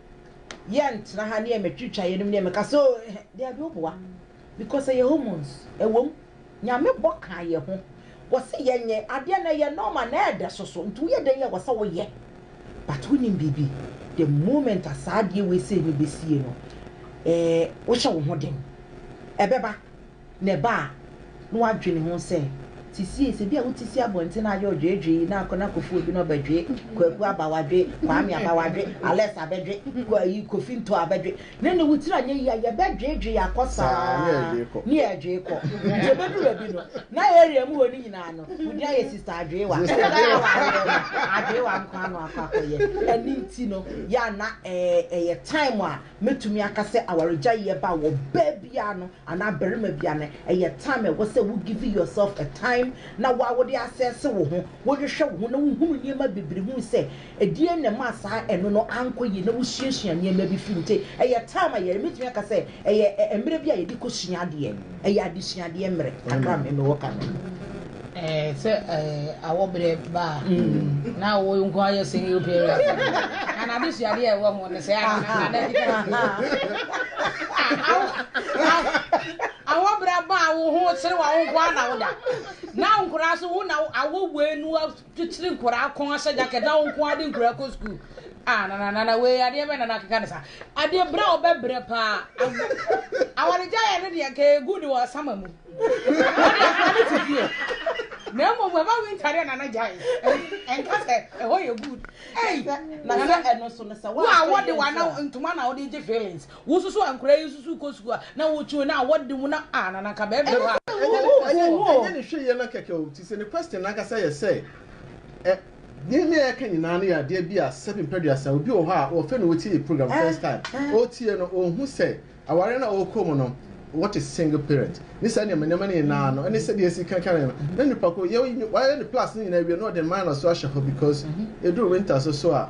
Yɛntena ha ne ɛmɛtwitwa yɛn anim ne ɛmɛka sɛ oh eh dabi oboa because ɛyɛ hormones ɛwom Nyame bɔ kaa yɛn ho wɔse yɛnyɛ adeɛ na ɛyɛ normal na ɛɛdɛ soso nti woyɛ dɛn yɛ wɔsɛ woyɛ but wonim biribi the moment a saa adeɛ wei sei no bɛsie no eh wohyɛ wo ho den ɛbɛba na ɛba a, na wadwene ho sɛ, Sesie, sɛ ebia wote si abɔnten na ayɛ ɔdweedwee yi, na akɔna kɔfoo bi na ɔbɛdwee, Kwaku aba, wadwee, Kwame aba, wadwee, Alex abɛdwe, Kwa yi, Kofi Ntoa abɛdwe, na ne wotiri anyɛ yie a, yɛbɛdweedwee akɔ saa ne yɛredwee kɔ. Nti ɛbɛduru baabi no, na area mu hɔ no nyinaa no, wodin ayɛ Sista Adweewa. Ɛda a awareɛ no, Adweewa nko ara na wakɔ akɔyɛ. Ɛno nti no, yɛ a na ɛyɛ time a mɛtumi aka sɛ awaregyaeɛ ba wɔ baabiara no, anaa barima bi a no ɛyɛ time a ɛwɔ sɛ wo give yourself a time na wo a wo de assess wo ho, wo hwehwɛ wo ho na wo hunu nneɛma bebree hunu sɛ ɛdeɛn na ɛmaa saa ɛno no ankɔ yie na wo suasua nneɛma bi firi mu nti ɛyɛ time a yɛ mɛtumi aka sɛ ɛyɛ mmerɛ bi a yɛde kɔ sua adeɛ ɛyɛ adesuadeɛ mmerɛ kakra me mewɔ ka no. Sɛ awɔ berɛ ba a, na wo nko ara yɛ single parent. Na n'adesuadeɛ a ɛwɔ ho no sɛ anaa na awɔ berɛ ba a wo ho serewa wo nko ara na woda. Na wo nkoraa so wo na awɔ wei no Kyekyere nkwadaa kɔn ahyɛ jacket na wɔn nko ade nkwadaa kɔ sukuu. Ah nana nana wei adeɛ bɛ nana akeka ne sa. Adeɛ brɛ a ɔbɛ brɛ paa. Awaregya yɛ ne deɛ nka egu ne wɔ asama mu. Ɔde asama ne ti fie. Na emu mu ɛba winter deɛ nana gya yi. Ɛnka sɛ ɛhɔ yɛ good. Ɛyi nana ɛno so ne sɛ wa. Wa wɔde wa na ntoma na ɔde gye feelings. Wo susu a nkora yi susu kɔ sukuu a na wo twi wo na wɔ de mu na ah na na nka bɛ bɛ hɔ a. Ɛnyɛ ne ɛnyɛ ɛnyɛ ne hwɛ yɛ no kɛkɛ o ti sɛ ne question no ankasa yɛ sɛ ɛ Deɛ me ɛka nyinaa no yɛ adeɛ bi a sɛbi mpɛduasa obi wɔ hɔ a ɔfɛ na ɔtie yɛ program first time ɔretie no ɔnhu sɛ awareɛ no a ɔrekɔ mu no what is single parent ne saa nneɛma nneɛma no nyinaa no ɛne sɛdeɛ ɛsi kanka no no na nipa ko yɛ wayɛ ne plus no nyinaa awie na ɔde minus so ahyɛ hɔ because ɛduru winter so so a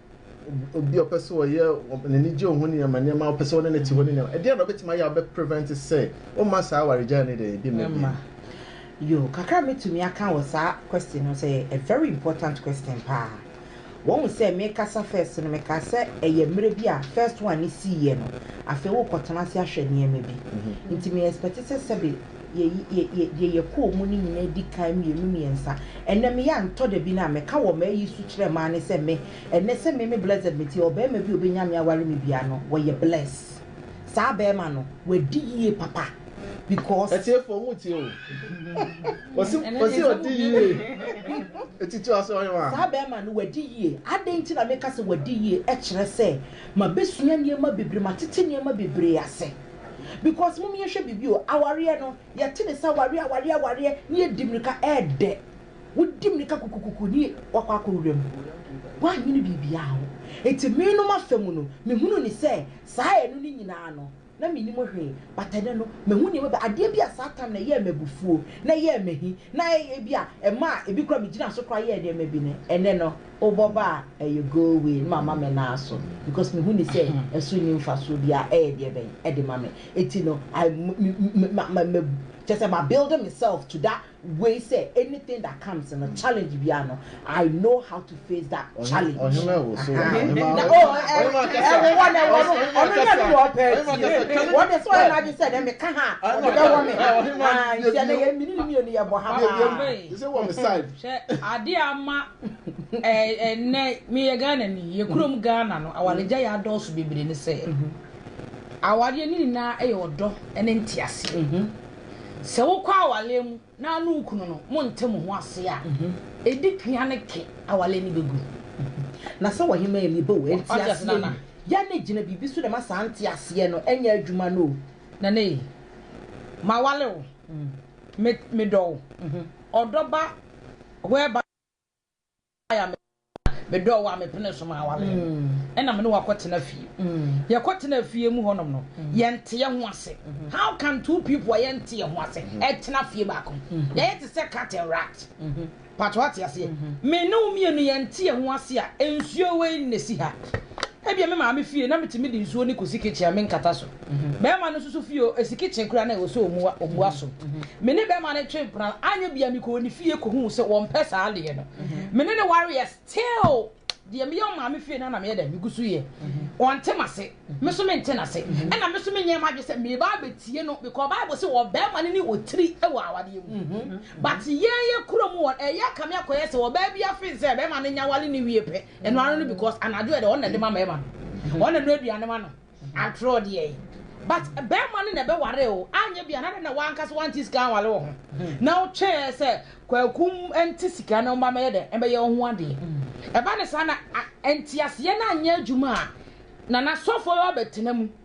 obi a ɔpɛ sɛ ɔyɛ n'ani gye ɔho nneɛma nneɛma ɔpɛ sɛ ɔne ne te hɔ ne nneɛma ɛdeɛ na ɔbɛtumi ayɛ a ɔbɛ prevent sɛ ɔma saa awaregyae ne deɛ ebi mma bi yo kakra mɛtumi aka wɔ saa question no sɛ a very important question paa wɔn sɛ mekasa first no meka sɛ ɛyɛ mmerɛ bi a first one ne siiɛ no afei wokɔtena ase ahwɛ nneɛma bi mhm. nti me expect sɛ sɛbe deɛ yɛkɔɔ mu no nyinaa di kan mmienu mmiɛnsa. Ɛnɛ me yɛ antɔ da bi no a meka wɔ m'ayi so kyerɛ mmaa ne sɛ me ɛnɛ sɛ me me blessed me tie ɔbarima bi a ɔbɛnya me aware me bia no wɔyɛ bless saa barima no wadi yie papa because. Atiefoɔ mo tie o wɔsi wɔsi ɔdi yie etiti ɔsɛ ɔyɛ wa. Saa barima no wadi yie adɛn nti na meka sɛ wadi yie ɛkyerɛ sɛ mabɛsua nneɛma bebree matete nneɛma bebree ase. Because mom yɛ hwɛ biribi o awareɛ no yɛ te ne sɛ awareɛ awareɛ awareɛ ne yɛ di mirika ɛɛdɛ wo di mirika kukukuku ne wakɔ akɔ wura mu wanyini biribiaa ho nti me nom afa mu no me hunu ne sɛ saa ɛno ne nyinaa no na me nim hwee but ɛnɛ no ma hu nneɛma bi adeɛ bi a saa time na ɛyɛɛ me abufuo na ɛyɛɛ me ahi na ɛyɛ bi a ɛmaa ebi kora me gyina so kora yɛɛ nneɛma bi no ɛnɛ no. Wobɔ ba a ɛyɛ go away na mama me nan aso because mehu no sɛ ɛso nni mfasoɔ biara, ɛyɛ deɛ bɛn de ma me? Enti no I me kyerɛ sɛ ma build me self to that way sɛ anything that comes no challenge biara no I know how to face that challenge. Ɔhema ɛwɔ so wɔ ha. Ɔhema na oh ɛwɔ hɔ na ɛwɔ no ɔno na ɛno wɔ pɛ ti wɔn de sɛ ɔyɛ n'adwene sɛ dɛ meka ha ɔde bɛ wɔ me ha nti ɛnɛ yɛ mini ni mmienu yɛ bɔ ha paa. Yɛ bi yɛ bi sɛ wɔ me side. Hwɛ adeɛ ama ɛnɛ meyɛ ghana ni yɛ kurom ghana no awaregya yɛ adɔɔso bebree ne sɛ awareɛ ne nyinaa ɛyɛ ɔdɔ ne nteaseɛ mhm. sɛ wokɔ awareɛ mu na ne wo kunu no monte mo ho ase a mhm. ɛdi pia ne ke awareɛ ne bɛgu mhm. na sɛ wɔhema yɛ mebɔ wɔ nteaseɛ yi yɛ ne gyina biribi so dɛma saa nteaseɛ no ɛnyɛ adwuma no o na ne mawale wo mm. medɔ wo ɔdɔ ba whereby a me medɔɔ wo a mepene so ma aware no, ɛna me ne wo akɔtena fie. Yɛkɔtena fie mu hɔnom no, yɛnte yɛn ho ase. How can two people a yɛnte yɛn ho ase tena fie baako mu? Yɛyɛ te sɛ cat and rat. Pato ate aseɛ? Me ne wo mmienu yɛnte yɛn ho ase a, nsuo wei na ɛsi ha. Ebia me maame fie na metumi de nsuo no kɔsi kitchen a menkata so. Barima no nso fie oo, ɛsi kitchen koraa na ɛwɔ sɛ ɔmua, ɔmua so. Me ne barima no twee mpena no, anyɛ biaa mekɔɔ ne fie kɔhuu sɛ wɔmpɛ saa adeɛ no. Me ne no wareɛ, still deɛ meyɛ wɔ maame fie no ara na meyɛ dɛn? Megu so yɛ. Ɔnte m'ase, me nso mente n'ase. Ɛna me nso menyɛɛ m'adwene sɛ meba abɛtie no because Bible se ɔbarima no ne otiri wɔ awadeɛ mu. But yɛn yɛkura mu wɔn, ɛyɛ kame akɔyɛ sɛ ɔbaa bi afee sɛ barima no nyɛ aware no wie pɛ, Ɛno ano no because anadwo yɛ dɛ ɔno na ɛde ma mɛɛma no ɔno na ɛno aduane ma no antorɔ deɛ but bɛɛma no na ɛbɛ ware o anyɛ bi anadɛ na wankasa wante sika anwale wɔ ho na wotwɛɛ sɛ kwakum ɛnte sika na ɔma mɛyɛ dɛ ɛbɛyɛ ɔho adeɛ ɛba ne saa na ɛnteaseɛ na anyɛ adwuma a na nasɔfoɔ bɛtena mu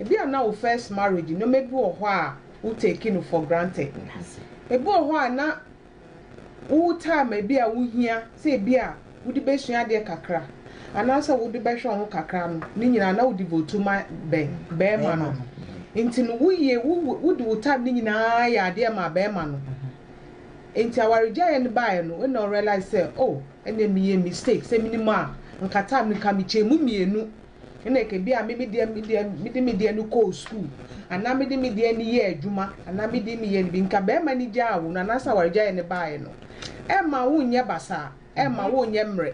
Ebia na wo first marriage nnoɔma bi wɔ hɔ a wo take no for granted. Ebi wɔ hɔ a na wo time a ebia wo hia sɛ ebia wo de bɛsua adeɛ kakra anaa sɛ wo de bɛhwɛ wo ho kakra no ne nyinaa na wo devote ma bɛn? Bɛɛma no. Nti no wo yie wo de wo time ne nyinaa yɛ adeɛ maa bɛɛma no. Nti awaregyaeɛ no baeɛ no ɛna wo realize sɛ oh ɛneɛ me yɛɛ mistake sɛ menim a nka time no nka me kyɛɛ mu mmienu. Nna ekebi a me me deɛ me deɛ mede me deɛ no kɔɔ sukuu anaa mede me deɛ no yɛɛ adwuma anaa me deɛ meyɛɛ no bi. Nka barima no gyaa wo no anaasɛ awaregyaeɛ no baeɛ no, ɛmma wonyɛ basaa, ɛmma wonyɛ mmerɛ.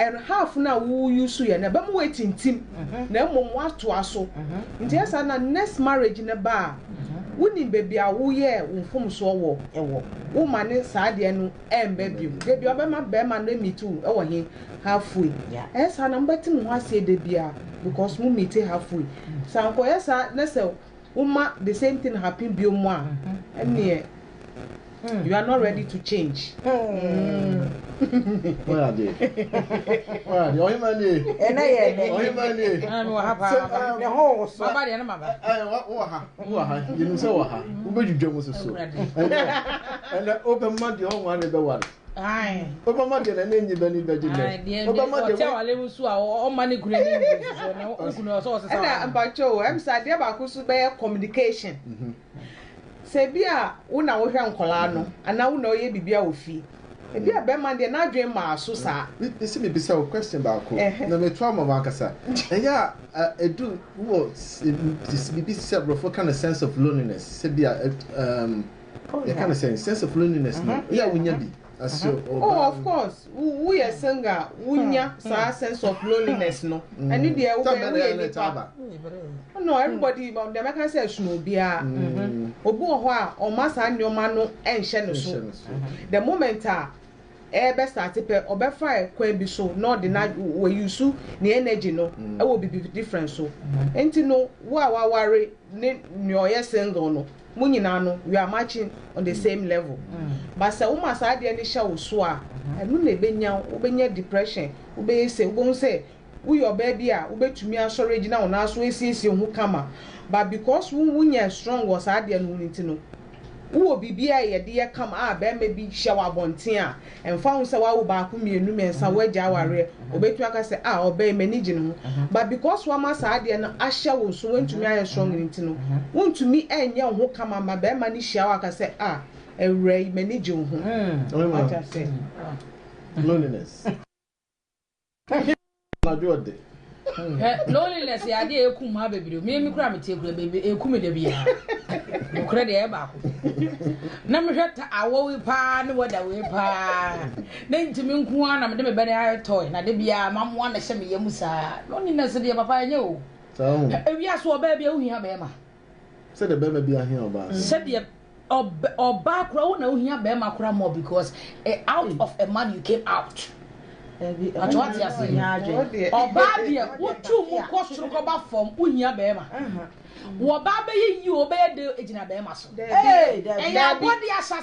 And half no a wo use yɛ no, ɛbɛma woatintim na mmom woatoa so. Nti ɛyɛ saa na next marriage no ba a, wonim baabi a woyɛɛ wo mfomsoɔ wɔ, woma no saa deɛ no ɛmba biom dabi ɔbɛma bɛɛma no meet wo ɛwɔ he half way ɛyɛ saa na mo bɛte mo ho aseɛ dabiaa because mo meet half way sa nkɔ yɛ saa ne sɛ wo ma the same thing happen biom a ɛneɛ you are not ready to change ɛnɛ yɛ ɛnɛ ne ho wo soɔ. Ɔho wɔ ha, yɛnim sɛ wɔ ha, wobɛdwudwa mu soso. Ɛnɛ wobɛma deɛ ɔnwa ne bɛware. Wobɛma deɛ n'ani enyi bɛ ne bɛgye dɛ. Wobɛma deɛ ɔkyɛ wale nso a ɔma ne kunu ani nyi soso na okunu ɔsɛ ɔsesa. Ɛna mpakyɛ o, ɛm sɛ adeɛ baako nso bɛyɛ communication. Mhm. Sɛ bi a wo na wohwɛ nkwadaa no anaa wo na ɔyɛ biribi a wɔ fie Ebia bɛrima no deɛ n'adwene mmaa so saa. Me me se me bisa wo question baako na me to ama wo ankasa. Ɛyɛ a edu wo wɔ biribi te sɛ aborɔfo ka no sense of loneliness sɛ bi a um yɛka no sɛn sense of loneliness no yɛ a wonya bi as your ɔbaa. Oh of course wo wo yɛ single a wonya saa sense of loneliness no ɛne deɛ wo bɛ wo yɛ nipa no everybody deɛ mɛka sɛ ɛsono obiara obi wɔ hɔ a ɔma saa nneɛma no ɛnhyɛ ne so. The moment a ɛɛbɛ starte pɛ ɔbɛfa kwan bi so na ɔde na wɔ use ne energy no wɔ bibi different so nti no wo a waware ne nea ɔyɛ single no mo nyinaa no you are matching on the same level but sɛ woma saa adeɛ no hyɛ wo so a ɛno na ɛbɛnya wo wobɛnya depression wobɛyɛ sei wobɛhu sɛ Woyɛ ɔbaa bi a wobɛtumi asɔre agyina wo nan so asiesie wo ho kama but because wo wo nyɛ strong wɔ saa adeɛ no ho nti no wo wɔ biribi a yɛde yɛ kama a barima bi hyɛ wo abɔnten a ɛmfa ho sɛ woawo baako mmienu mmiɛnsa woagya awareɛ ɔbɛtumi aka sɛ ah ɔbaa yi m'ani gye ne ho but because woama saa adeɛ no ahyɛ wo so woantumi ayɛ strong no nti no wontumi ɛnyɛ wo ho kama ma barima no hyia wo aka sɛ ah awura yi m'ani gye wo ho wate ase loneliness. Ka hia no anadwo ɔde. Hwɛ, loneliness yɛ adeɛ a ɛkum mmaa bebree. Me me kura me tie kura bɛ ɛku me da biara. Nokorɛ deɛ ɛyɛ baako. Na mehwɛ ta awɔ wei paa ne wɛda wei paa. Na ntumi nko ara na mede me bɛne ayɛ tɔe na de biara mamoa na ɛhyɛ me yam saa. Loneliness deɛ papa ɛnyɛ o. Ewiase ɔbaa bi a wohia bɛrima. Sɛdeɛ barima biara hia ɔbaa no. Sɛdeɛ ɔbaa koraa wo na wohia barima koraa more because out of a man you came out. Mpakyɛ wate aseɛ? Ɔbaa deɛ wotu mu kɔ soro kɔba fam wohia barima. Wɔbaa bɛyɛ yie o bɛyɛ dɛ gyina barima so. Ɛyɛ abɔdeɛ ahyɛ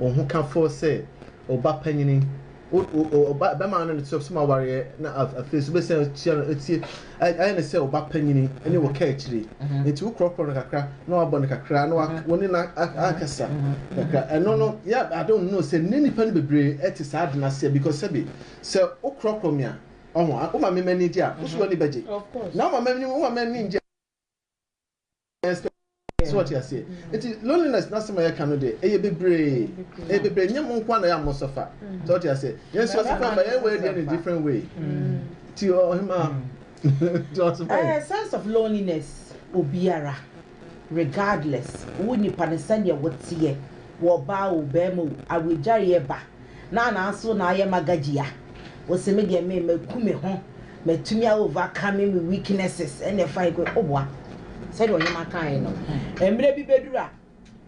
Ɔhokafo sɛ ɔba panyin, ɔba bɛma no ne sɛ ɔsom awareɛ na afei nso bɛsan atua no atie ayɛ ne sɛ ɔba panyin ne wɔ kaa akyire nti wokorɔkorɔ no kakra na wabɔ no kakra na wo ne no akasa kakra ɛno no yɛ I don't know sɛ ne nipa no bebree ɛte saa ade no aseɛ because sɛbi sɛ wokorɔkorɔ me a ɔho woma me m'ani gye a wo so w'ani bɛgye na woma m'ani woma m'ani gye so ɔte aseɛ nti loneliness n'asɛm a yɛka no deɛ ɛyɛ bebree ɛyɛ bebree nyɛ mo nko a na yɛ a mo sɔfa so ɔte aseɛ yɛn nso yɛsɔfa ɛba yɛn wɔ ɛdeɛ in a different way ti ɔhema ti ɔsɔfa yɛ. sense of loneliness obiara regardless wo nipa no sɛdeɛ woteɛ wɔ ɔbaa o bɛrima o awagyare ɛba na nanso na ayɛ magagia ose me deɛ me maku me ho matumi a overcome me weaknesses ɛna ɛfa ego oboa sɛdeɛ ɔhema kaeɛ no mmerɛ bi bɛduru a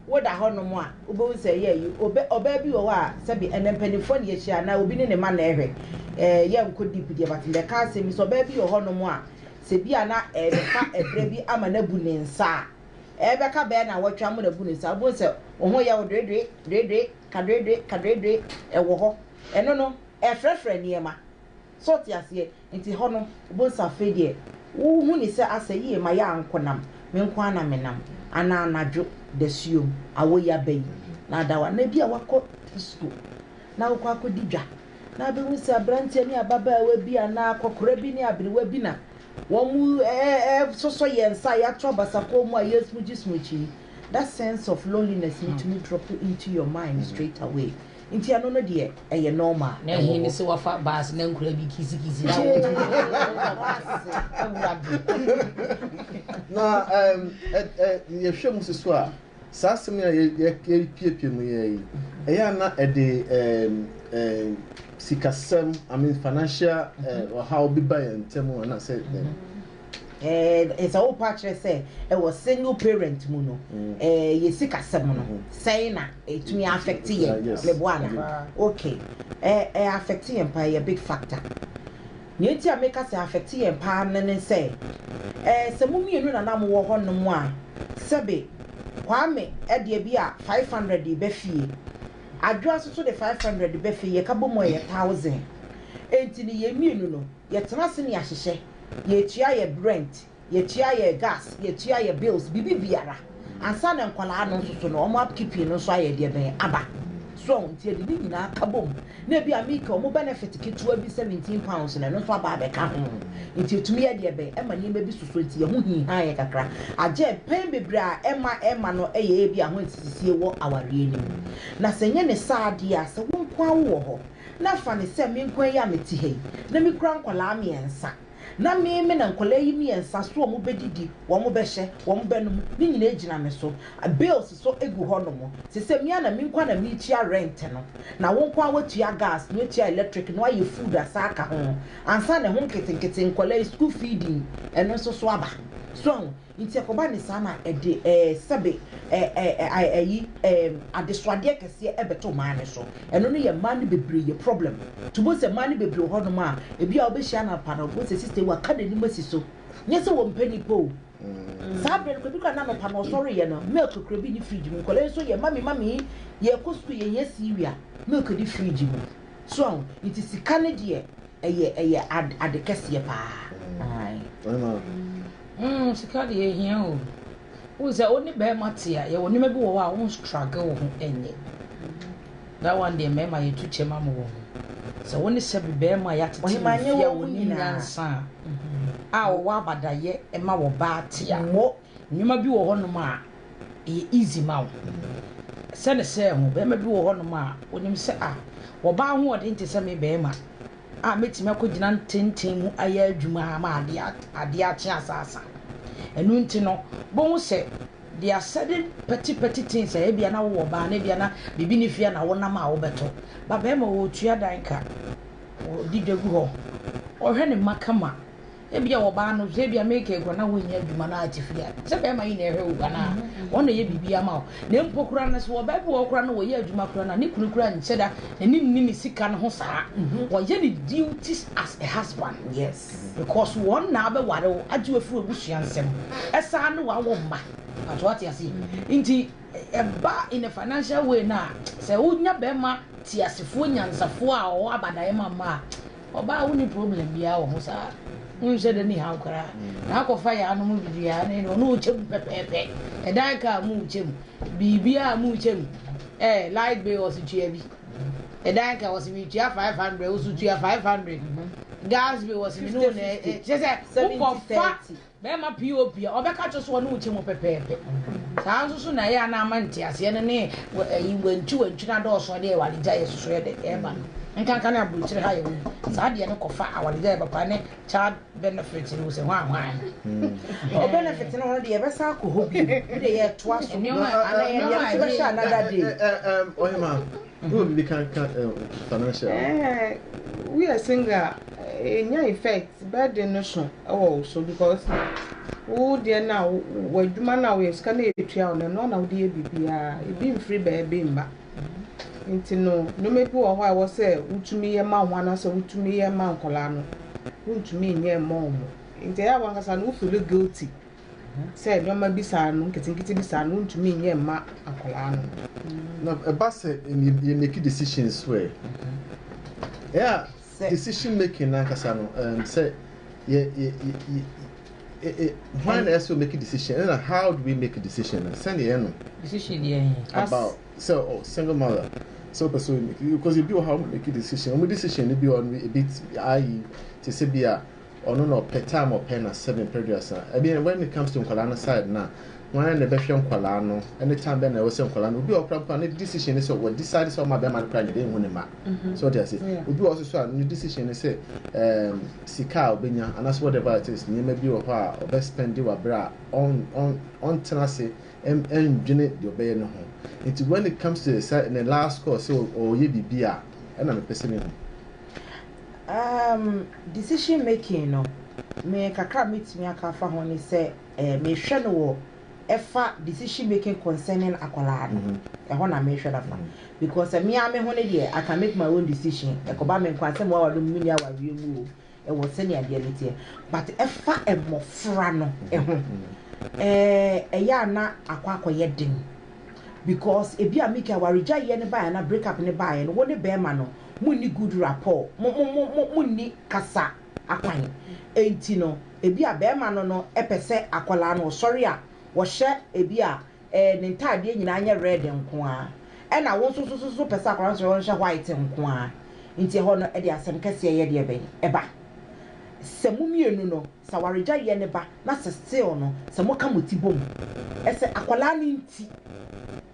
woda hɔ nom a wobɛhu sɛ yɛ yi ɔbaa bi wɔ hɔ a sɛbi ɛnɛ mpanimfoɔ ne yɛhyia na obi ne ne ma na ɛhwɛ ɛɛ yɛ nkɔ deep deɛ but mbɛka asɛm bi sɛ ɔbaa bi wɔ hɔ nom a sɛ bi a na ɛbɛfa ɛberɛ bi ama no abu ne nsa a Ɛrebɛka bɛyɛ nnawɔtwe a morebu no saa, wobɛhu sɛ wo ho yɛ wo doedoe, doedoe, ka doedoe, ka doedoe, ɛwɔ hɔ. Ɛno no, ɛrefrɛfrɛ nneɛma. So wote aseɛ? Nti hɔ no, wobɛhu sɛ afei deɛ wohu no sɛ asɛ yie, ma yɛ ara nkɔnam, me nko ara na menam. Anaa anadwo dasuom, awɔ yi aba yi, na ada hɔ. Anaa bi a woakɔ disko na wokɔ akɔdi dwa, na wobɛhu sɛ aberanteɛ ne ababaawa bi anaa akɔkora bi ne aberewa bi na Wɔsosɔ yɛn nsa a yɛato abasakɔ mu a yɛresmugye smugye yi, that sense of loneliness no tumi drop into your mind straight away. Nti ɛno no deɛ ɛyɛ normal. Na ɛhe ne sɛ wafa bus na nkura bi kisi kisi na wotumi wɔ bus awura bi. Na yɛhwɛ mu si so a. Saa asɛm yi a yɛrepiapia mu yi, ɛyɛ a na ɛde sikasɛm, I mean financial ɔhaw bi ba yɛn ntam anaasɛ dɛn? Ɛɛ, sɛ wopa akyerɛ sɛ ɛwɔ single parent mu no, ɛɛ mm. yɛ sikasɛm no, mm. sɛn na ɛtumi afɛkte yɛn? Meboa na okay, ɛɛ ɛyɛ afɛkte yɛn paa, ɛyɛ big factor. Nea enti a meka sɛ afɛte yɛn paa no ne sɛ, ɛɛ sɛ mo mmienu na na mowɔ hɔnom a, sɛbe Kwame de ebi a five hundred reba fie, Adwoa nso so de five hundred reba fie, yɛka bom a ɛyɛ thousand. Enti no yɛn mmienu no, yɛtena ase ne yɛahyehyɛ, yɛretua yɛn rent, Yɛtua yɛ gas, yɛtua yɛ bills, biribi biara. Ansa na nkwadaa no nso so no, wɔn upkeeping no nso ayɛ deɛ bɛn, aba. So ahu? Nti yɛde ne nyinaa ka bom. Na ebia me ka wɔn benefit ketewa bi, seventeen pounds no, ɛno nso aba abɛka ho. Nti yɛtumi yɛ deɛ bɛn, ɛma nneɛma bi sosɔ, nti yɛn ho hinha yɛn kakra. Agyɛ, mpɛn bebree a ɛma ɛma no yɛ ebia ho nsisisie wɔ awareɛ no mu. Na sɛ ɛnyɛ ne saa deɛ a, sɛ wo nko ara wowɔ hɔ, na fa no sɛ me nko ara yi a mete ha yi, na mekura nkwadaa mmiɛnsa, na me, me na nkwadaa yi mmiɛnsa so wɔbɛdidi, wɔbɛhyɛ, wɔbɛnom, ne nyinaa gyina me so. Bills nso gu hɔnom. Te sɛ me ara na me nko ara na meretua rent no, na wo nko ara woatua gas no, atua electric no, ayɛ food asan aka ho, ansa na ɛho nketenkete, nkwadaa yi school feeding, ɛno nso so aba. So ahu? Nti ɛkɔba ne saa na ɛde eh, sɛbe eh, eh, eh, ai, ayi, ehm, adesoadeɛ kɛseɛ ɛbɛto mmaa no so. Ɛno no yɛ mmaa no bebree yɛ problem. Nti wobɛhu sɛ mmaa no bebree wɔ hɔnom a, ebi a wobɛhyia no anɔpa no, wobɛhu sɛ sista yi waka n'anim asi so. Nyɛ sɛ wɔmpɛ nnipa o. Saa berɛ no, kɔ bi koraa na anɔpa no ɔsɔreeɛ no, milk koraa bi nni fridge mu. Nkwadaa yi nso yɛ mummy, mummy, yɛrekɔ sukuu, yɛhia cereal, milk di fridge mu. So ahu? Nti sika no deɛ, ɛyɛ, ɛyɛ ad, ade kɛseɛ paa. Ai. Ɛma Mm sika deɛ ehia o. Wohu sɛ wo ne bɛɛma te a, yɛwɔ nneɛma bi wɔ hɔ a wo struggle wo ho ɛnyɛ. That one deɛ mɛɛma yɛtu kyɛ ma mo wɔ ho. Sɛ wo ne sɛbi bɛɛma a yɛatete Ɔhema no nyɛ fie a wɔn wɔnim nyinaa. nyansa a, a wɔwɔ abadayɛ ɛma wɔ baa te a, Mo. nneɛma bi wɔ hɔnom a ɛyɛ easy ma wo. Sɛ ne sɛ ho, bɛɛma bi wɔ hɔnom a wonim sɛ ah, wɔ baa ahoɔden te sɛ me bɛɛma. a mɛtumi akɔgyina ntenten mu ayɛ adwuma ama adeɛ adeɛ akye asaasa ɛno nti no bohu sɛ they are certain petty petty things a ebia na wowɔ baa na ebia na biribi ne fie na wonam a wobɛtɔ ba bɛrima wɔtua dan ka wɔdi dwa gu hɔ ɔhwɛ ne mma kama Ebia wɔba ano hwɛ, ebia meka yi koraa na wonnya adwuma na ate fie a, sɛ bɛrima yi na ɛhwɛ wo anaa? Wɔn na ɛyɛ biribi ama wo. Na mpo koraa no, sɛ ɔbaa bi wɔ hɔ koraa na wɔyɛ adwuma koraa no a, ne kunu koraa nkyɛ da n'ani nni ne sika no ho saa. Wɔyɛ ne duties as a husband. Yes. Because wɔn na abɛware wo, agye wo afiri w'abusua nsam, ɛsan ne w'awo mma. Pato ate aseɛ. Nti ɛba in a financial way no a, sɛ wonya bɛrima teasefoɔ, nyansafoɔ a ɔwɔ abadaeɛ ma mmaa a, Ɔbaa wonni problem biaa wɔ ho saa wonhyɛ da nni haw koraa na akɔfa yaa nom biribiaa na ɛne ɔne wo kyɛ mu pɛpɛɛpɛ ɛda ɛka a mu kyɛ mu biribiaa mu kyɛ mu eh light bill ɔse tua bi ɛda ɛka ɔse metua 500 wo so tua 500 gas bill ɔse me ne wo na ɛkyɛ sɛ wokɔfa Bɛrima pii wɔ hɔ pii a, wɔbɛka akyerɛ wo sɛ wɔne wo kyɛ mu pɛpɛɛpɛ. Saa ara nso so na ɛyɛ a na ama nteaseɛ no ne wantwiwantwi no adɔɔso de awaregyaeɛ sosoeɛ de reba no. Nkanka ne aburokyire ha a yɛwɔ yi, saa deɛ no kɔfa awaregyaeɛ papa ne child benefit no sɛ hwan hwan. Ɔ benefit no no deɛ yɛbɛsan akɔ hɔ bio, wo deɛ yɛtoa so. Nneɛma a ɛyɛ. Nneɛma a ɛyɛ. Yɛbɛhyɛ another day. Ɔhema. Hom mma kanka financial. Ehh wo yɛ single a enya effect burden no so wɔ wo so because wo deɛ no a w'adwuma no a woyɛ sika no a etua wo no ɛno na wode yɛ biribiara ebi mfiri baabi mma nti no nneɛma bi wɔ hɔ a ɛwɔ sɛ wotumi yɛ ma wo ho anaasɛ wotumi yɛ ma nkwadaa no wontumi nyɛ mmɔ wɔn nti ɛyɛ a wankasa no wo feel guilty. Sɛ nneɛma bi saa no, nketenkete bi saa no, wontumi nyɛ mma akwadaa no. Na ɛba sɛ yɛ make decision so ɛ. Ɛyɛ a decision making nankasa no, um, sɛ yɛ yɛ yɛ yɛ hwan na ɛsɛ make decision ɛna how do we make decision na sɛnea yɛ no. Decision yɛ yɛ. About sɛ ɔ oh, single mother sɛ ɔpɛ sɛ ɔyɛ make because ebi wɔ ha ɔmo make decision ɔmo decision no bi wɔ no ebi ayi te sɛ bi a. Ɔno na ɔpɛ time ɔpɛ na seven pɛ aduasa ɛdeɛn when it comes to nkwadaa no side no a hwan na ɛbɛhwɛ nkwadaa no ɛne time bɛn na ɛwɔ sɛ nkwadaa no obi a ɔkora mpo a ne decision ne sɛ wɔ decide sɛ ɔma bɛrima no kora nyɛ dɛ ehu ne ma mhm. so ɔde ase obi wɔ soso a ne decision ne sɛ ɛɛm um, sika a ɔbɛnya anaasɛ whatever it is nneɛma bi wɔ hɔ a ɔbɛ spend wɔ abere a ɔn ɔn ɔntena ase ɛndwene deɛ ɔbɛyɛ ne ho nti when it comes to the side ne last call sɛ ɔyɛ biribi a ɛna mepɛ sɛ mehu Um decision making no me kakra a mɛtumi aka afa ho ne sɛ eh, mehwɛ no wɔ ɛfa decision making concerning akwadaa no mm-hmm. ɛhɔ na mehwɛ no afa mm-hmm. because me ara me ho no deɛ I can make my own decision ɛkɔba me nkwa sɛ mmoawa no muni awareɛ mu o ɛwɔ sɛnea adeɛ no teɛ but ɛfa mmɔfra no ɛho mm-hmm. eh, ɛyɛ a na akɔ akɔyɛ den because ebi a mika awaregyaeɛ no baeɛ na break up no baeɛ no wo ne bɛrima no Munni good rapport, mo mo mo mo munni kasa akwan. Enti no, ebia barima no no pɛ sɛ akwadaa no ɔsɔre a, ɔhyɛ ebia eh, ne ntaadeɛ nyinaa nyɛ red nko ara. Ɛna wo nso nso nso nso pɛ sɛ akwadaa no sɔre ɔnhyɛ white nko ara. Nti ɛhɔ no ɛde asɛm kɛseɛ yɛ deɛ bɛn? Ɛba. Sɛ mo mmienu no. Sɛ awaregyae yɛ ne ba na sɛ still no sɛ mo ka mo ti bom ɛsɛ akwadaa no nti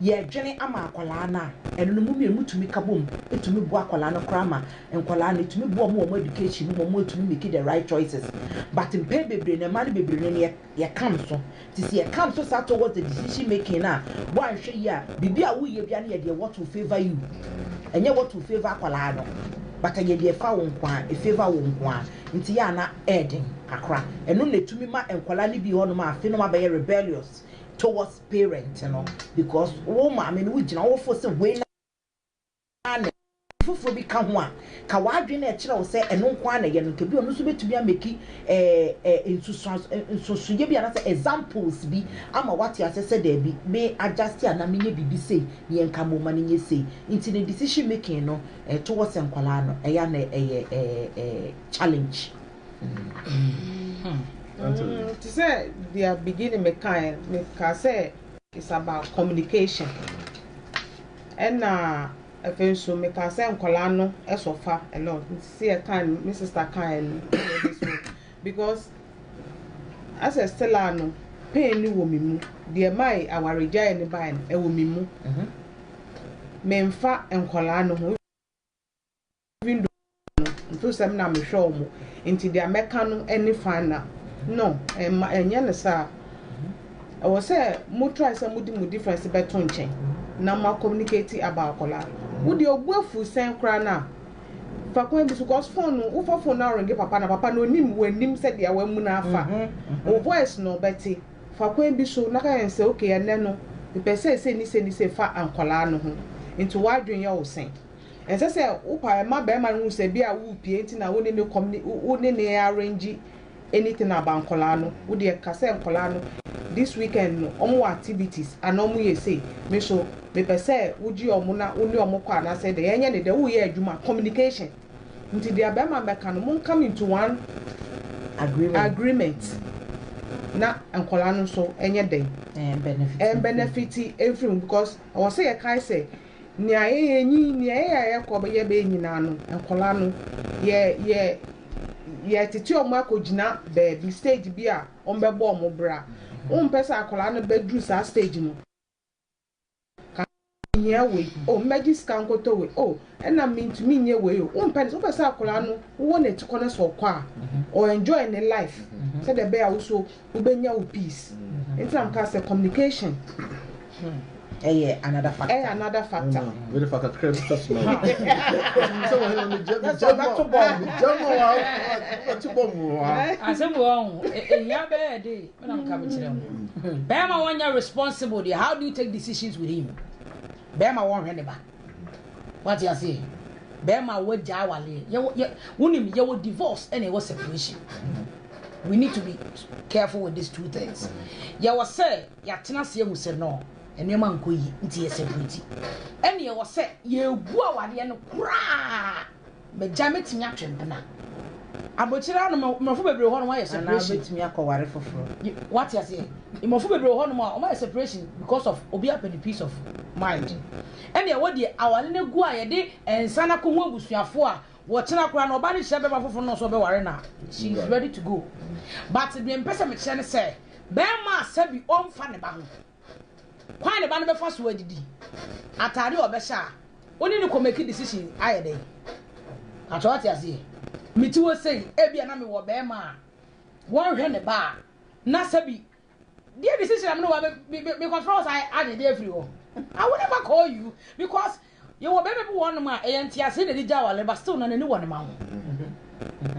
yɛ dwene ama akwadaa no a ɛno no mo mmienu mo tumi ka bom ɛtumi boa akwadaa no koraa ma nkwadaa no ɛtumi boa ɔmo wɔ ɔmo education mu ma ɔmo ɛtumi make the right choices but mpɛn bebree no mmaa no bebree no yɛ yɛ ka nso te sɛ yɛ come so saa towards the decision making no a, bɔ anhwɛ yie a, biribi a woyɛ biara no yɛ deɛ what will favour you, ɛnyɛ what will favour akwadaa no, but ɛyɛ deɛ ɛfa wo nko ara, ɛfavour wo nko ara, nti yɛ a na ɛyɛ den kakra. Ɛno na ɛtumi ma nkwadaa no bi wɔ hɔnom a afei na wɔabɛyɛ rebellious towards parent no because wo maame no, wogyina hɔ, wofo sɛ wei na. ara na ɛyɛ. Foforo bi ka ho a, ka w'adwene na ɛkyerɛ wo sɛ ɛno nko ara na ɛyɛ no nka bi a ɔno nso bɛtumi ameki nsusuiɛ bi anaasɛ examples bi ama woate aseɛ sɛ daabi, me adjust anaa menyɛ biribi sei, neɛ nka momma no nyɛ sei. Nti no decision making no towards nkwadaa no ɛyɛ a na ɛyɛ challenge. Te sɛ deɛ beginning mekaeɛ no, mekaa sɛ it's about communication. Ɛna afei nso mekaa sɛ nkwadaa no sɔfa a lot nti sɛ yɛ kaa no me sister kaeɛ no ɛde so because asɛ still a no pain no wɔ me mu deɛ ɛmae awaregyaeɛ no baeɛ no ɛwɔ me mu menfa nkwadaa no ho. Even though no, nto sɛ me na mehwɛ wɔn, nti deɛ mɛka no ne final. No, ɛmma, ɛnyɛ no saa. Ɛwɔ sɛ mo try sɛ mode mo difference bɛto nkyɛn na mo a communicate about akwadaa no. Wo deɛ obu afu sɛn koraa no a, fa kwan bi so cause phone no, wofa phone no aringe papa no a, papa no onim w'anim sɛdeɛ w'amu no afa. Wo voice no ɔbɛte. Fa kwan bi so na ka kyerɛ no sɛ okay ɛnnɛ no mepɛ sɛ sei ne sei ne sei fa nkwadaa no ho, nti w'adwene yɛ wo sɛn? Ɛnsɛ sɛ wopa ma barima no hu sɛ bi a worepie nti na wo ne no kɔm ne wo ne no arrange anything about nkwadaa no. Wo deɛ ka sɛ nkwadaa no this weekend no wɔwɔ activities anaa wɔyɛ sei. Me nso mepɛ sɛ wogye wɔn na wo ne wɔn kɔ anaasɛ dɛ yɛnyɛ ne dɛ woreyɛ adwuma communication nti deɛ barima no bɛka no mo come into one Agreement. agreement na nkwadaa no nso nyɛ dɛn? Ɛn benefit. Ɛn benefit mfiri mu because ɛwɔ sɛ yɛkae sɛ Nea yɛyɛ nyi nea yɛyɛ a yɛkɔ yɛ bɛyɛ nyinaa no nkwadaa no yɛ yɛ yɛtete wɔn akɔgyina baabi stage bi a wɔbɛbɔ wɔn bra wompɛ sɛ akwadaa no bɛduru saa stage no ka mehia wei oh mɛgye sika nkɔtɔ wei oh ɛna mentumi nyɛ wei o wompɛ ne wopɛ sɛ akwadaa no wowɔ n'atikɔ no sɛ ɔkɔ a ɔ enjoy ne life sɛdeɛ ɛbɛyɛ a wo so wobɛnya wo peace nti na meka sɛ communication ɛyɛ another factor ɛyɛ another factor mede fa kakra bi ka soma sɛ wɔhɛ na megya megya ma megya ma wa wɔte bɔ mu wa asɛm wɔ ho ehia bɛyɛ de me na meka mekyerɛ ho bɛrima wɔnyɛ responsible deɛ how do you take decisions with him bɛrima wɔnhwɛ ne ba wate aseɛ bɛrima wɔagya awaleɛ wonim yɛwɔ divorce ɛna ɛwɔ separation We need to be careful with these two things. Yɛwɔ sɛ yɛatena ase ahu sɛ no, nneɛma nkɔ yie nti yɛ separate. Ɛne yɛwɔ sɛ yɛgu awadeɛ no koraa. Magya mɛtumi atwe mpena. Abokyere ano mmorɔfo bebree hɔ nom ayɛ separation. Anaa ɔbɛtumi akɔware foforɔ. Wate aseɛ? Mmorɔfo bebree hɔ nom a wɔayɛ separation because of obi apɛ ne peace of mind. Ɛne ɛwɔ deɛ aware no agu a yɛde nsa no akɔhu abusuafoɔ a Wɔkyena koraa no ɔbaa no hyia bɛɛma foforo no ɔsɛ ɔbɛware no a she is ready to go but deɛ mpɛ sɛ mekyerɛ ne sɛ bɛɛma a sɛbi ɔnfa ne ba ho kwan ne ba no bɛfa so adidi ataade a ɔbɛhyɛ a ɔne no kɔ make decision ayɛ dɛn atwa wate aseɛ meti hɔ sei ebia na mewɔ bɛɛma a wɔnhwɛ ne ba a na sɛbi Deɛ me sisi na me ne wa me me me control saa adi deɛ firi hɔ. I will never call you because yɛ wɔ bɛbɛ bi wɔn nom a ɛyɛ nti ase na ɛdi gya wale but still na n'ani wɔ ne ma ho.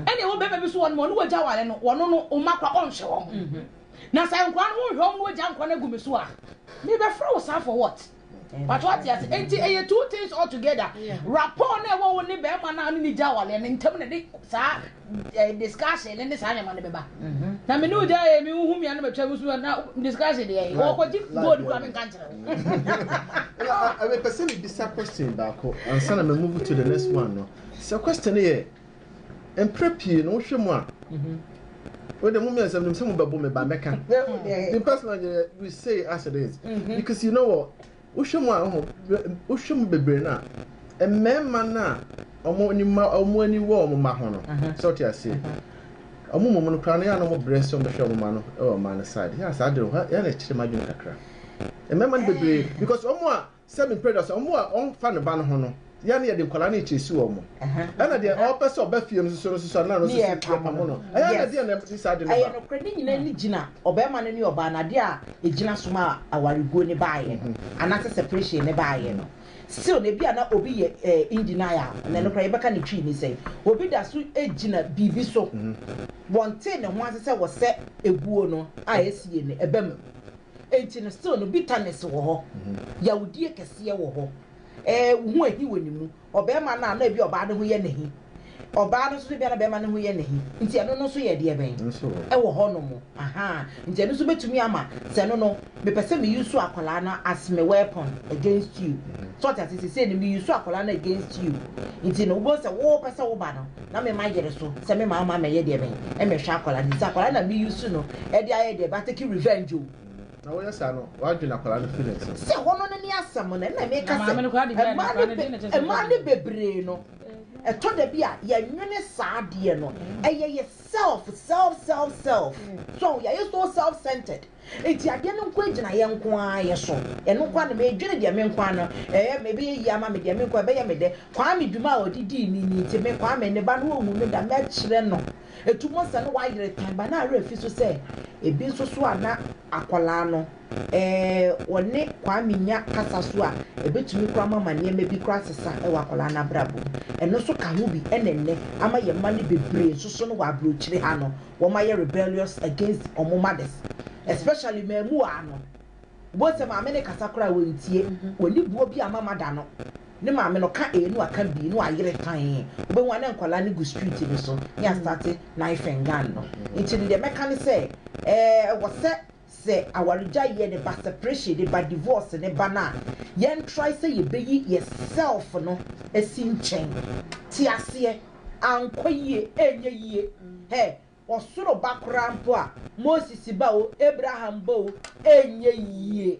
Ɛna ɛwɔ bɛbɛ bi so wɔn nom ɔno wɔ gya wale no wɔn no ɔma kora ɔnhwɛ wɔn. Na sɛ nkora no wɔn hwɛ wɔn no wɔ gya nkora no agu me so a me bɛ fira wo saa for what? But what yes, and it two things altogether. Rapport na ɛwɔ wo ne bɛrima na ne ne gya awale ne ntam na de saa eh, discussion ne ne saa nneɛma no bɛba. Mhm. Na me ne wo gya yɛ me hu me anam atwa mu so na discussion deɛ yɛ. Wɔkɔgye gold kura me nka nkyerɛ wo. Ɛbɛ pɛ sɛ me bisa question baako ansa na me move to the next one no. Sɛ question yɛ Mprɛ pii no wohwɛ mu a wei de mo mmiɛnsa menim sɛ mobɛbo me ba mɛka me personal deɛ we say as it is mm-hmm. because you know what wohwɛ mu a ho wohwɛ mu bebree no a mmarima no a ɔmo ani ma ɔmo ani wɔ ɔmo ma ho no mm-hmm. sɛ ɔte aseɛ mm-hmm. ɔmo mmom no koraa no yɛ a na ɔmo brɛ sɛ ɔmo bɛhwɛ ɔmo ma no ɛwɔ ɔmo ma no side yɛ a saa de yɛ na ɛkyerɛ ma adwene kakra mmarima no bebree because ɔmo a Sɛ me mpɛ da so a, wɔn a wɔmfa ne ba no ho no, yɛn na yɛde nkwadaa no kyekyɛ esi wɔn. Ɛna deɛ ɔpɛ sɛ ɔba fie no nso no nso a, na no nso so yɛpamo no. Ɛyɛ na deɛ na ɛde saa de no ba. Ɛyɛ nokorɛ, ne nyinaa ne gyina ɔbarima no ne ɔbaa no, adeɛ a ɛgyina so ma awareguo no baeɛ no, anaasɛ separation no baeɛ no. Still no, ebi a na obi yɛ eh, in denial, na ɛno koraa yɛbɛka ne twii ne sɛn. Obi da so gyina biribi so, wɔntee ne ho ase sɛ wɔsɛ eguo no a ɛsiie no ɛba mu. Enti no, still no, bitterness wɔ hɔ. Yawdie kɛseɛ wɔ hɔ. Ɛɛ, wo ho ahi wɔ ne mu. Ɔbarima no a, na ebi a ɔbaa no ho yɛ no ahi. Ɔbaa no nso, ebi a na barima no ho yɛ no ahi. Nti ɛno no nso yɛ deɛ bɛn? Ɛwɔ hɔnom. Ahaa. Nti ɛno nso bɛtumi ama, sɛ ɛno no, mepɛ sɛ me use akwadaa no as me weapon against you. So ɔte aseɛ? Seesei no, me use akwadaa no against you. Nti no, wobɛhu sɛ wopɛ sɛ wo ba no, na me ma yere so sɛ me maa ma mɛyɛ deɛ bɛn ɛmɛhwɛ akwadaa no nti akwadaa no na me use no ɛde ayɛ deɛ bɛ atake revenge o. Na woyɛ saa no wadwene akwadaa no firi ne nsam. Sɛ hɔ no ne ne asɛm no ɛna meka sɛ ɛmaa ne bebree no ɛtɔ da bi a yɛnwene saa adeɛ no ɛyɛ yɛ self self self self so yɛayɛ so self centered. Enti adeɛ no nkoa gyina yɛn nkoa yɛ so. Ɛno nkoa no medwene deɛ me nkoa no ɛyɛ me ɛbɛyɛ yie ama me deɛ me nkoa ɛbɛyɛ me dɛ. Kwame dwuma a ɔde dii me ni nti me Kwame ne ba no ɔnwu no da mɛkyerɛ no. Ɛtu mɔ sɛ no wayere tan ba no a werɛ fi so sɛ ɛbi nso so a na akwadaa no ɛɛ ɔne Kwame nya kasa so a ɛbɛtumi kora ma ma nneɛma bi kora asesa wɔ akwadaa no abrabɔ mu. Ɛno nso ka ho bi ɛna ɛnnɛ ama yɛn mma no bebree nso so no wɔ aburokyire ha no wɔayɛ rebellious against wɔn mothers especially mmamuwaa no, wobɛhu sɛ maame no kasa koraa wɔntie, wɔnni boɔ bi a ama mother no, ne maame no ka A no aka B, no ayere tann, wobɛhu a na nkwadaa no gu street no so ne astarte knifing gun no. Nti no deɛ mɛka ne sɛ, ɛɛ, ɛwɔ sɛ Sɛ awargyaeɛ de ba, separation de ba, divorce ne ba no a, yɛn try sɛ yɛbɛyi yɛ self no asi nkyɛn. Te aseɛ? Ankɔ yie, ɛnyɛ yie. Hɛ, ɔsoro ba koraa mpo a, Moses ba o, Abraham ba o, ɛnyɛ yie.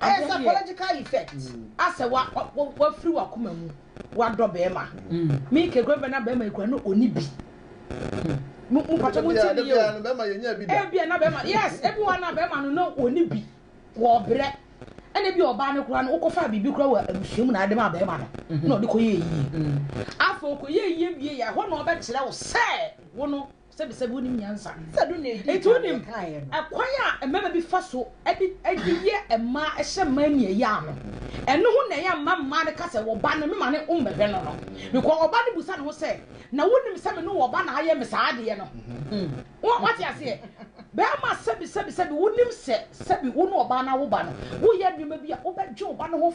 Ɛyɛ psychological effect asɛ wa wa firi wa kuma mu wa dɔ bɛɛma mi ke kura bɛ na bɛɛma ekura no oni bi mu mu pàtó mu tiɛ ni yɛ o ebi a na bɛɛma yes ebi wa na bɛɛma no na oni bi wɔ ɔbrɛ ɛna ebi ɔbaa no kura no wokɔ fa biribi kura wɔ abusua mu na adi ma bɛɛma no na ɔde kɔ yɛ yie afɔ ɔkɔ yɛ yie wie yɛ ɛhɔ na ɔbɛkyerɛ wo sɛ wo no. Sɛbisɛbi wonim nyansa. Sɛ do na edi Enti kan wonim yɛkaeɛ no. ɛkwan a mmarima bi fa so de de yɛ mmaa hyɛ mmaa nniayaa no. Ɛno ho na ɛyɛ mma mmaa no ka sɛ wɔ ba no mema no mmɛhwɛ no no. Because ɔba no bisa ne ho sɛ, na wonim sɛ me ne wɔ ba na ayɛ me saa adeɛ no? Wo wate aseɛ? Barima sɛbisɛbisɛbi wonim sɛ sɛbi wo ne ɔbaa no awo ba no woyɛ nneɛma bi a wobɛgye ɔba no ho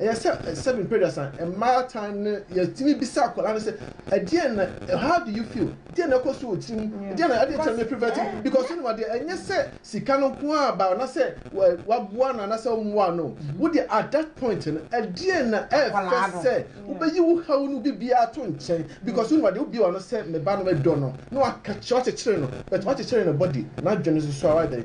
Ɛyɛ sɛ seven mpɛduasa mmaa tan no yɛtumi bisa akwadaa no sɛ ɛdeɛn na how do you feel deɛn na ɛkɔ so wɔ tiri mu deɛn na ɛdeɛn tena prevent because wonim adeɛ ɛnyɛ sɛ sika no nko a ba na sɛ waboa no anasɛ ɔmmoa no wo deɛ at that point no ɛdeɛn na ɛfɛ sɛ wobɛyi wo haw no bibiara to nkyɛn because wonim adeɛ wobie wa no sɛ me ba no medɔ no na wakɛkyerɛ wakyekyere no but wakyekyere no body n'adwene nso so a wadɛn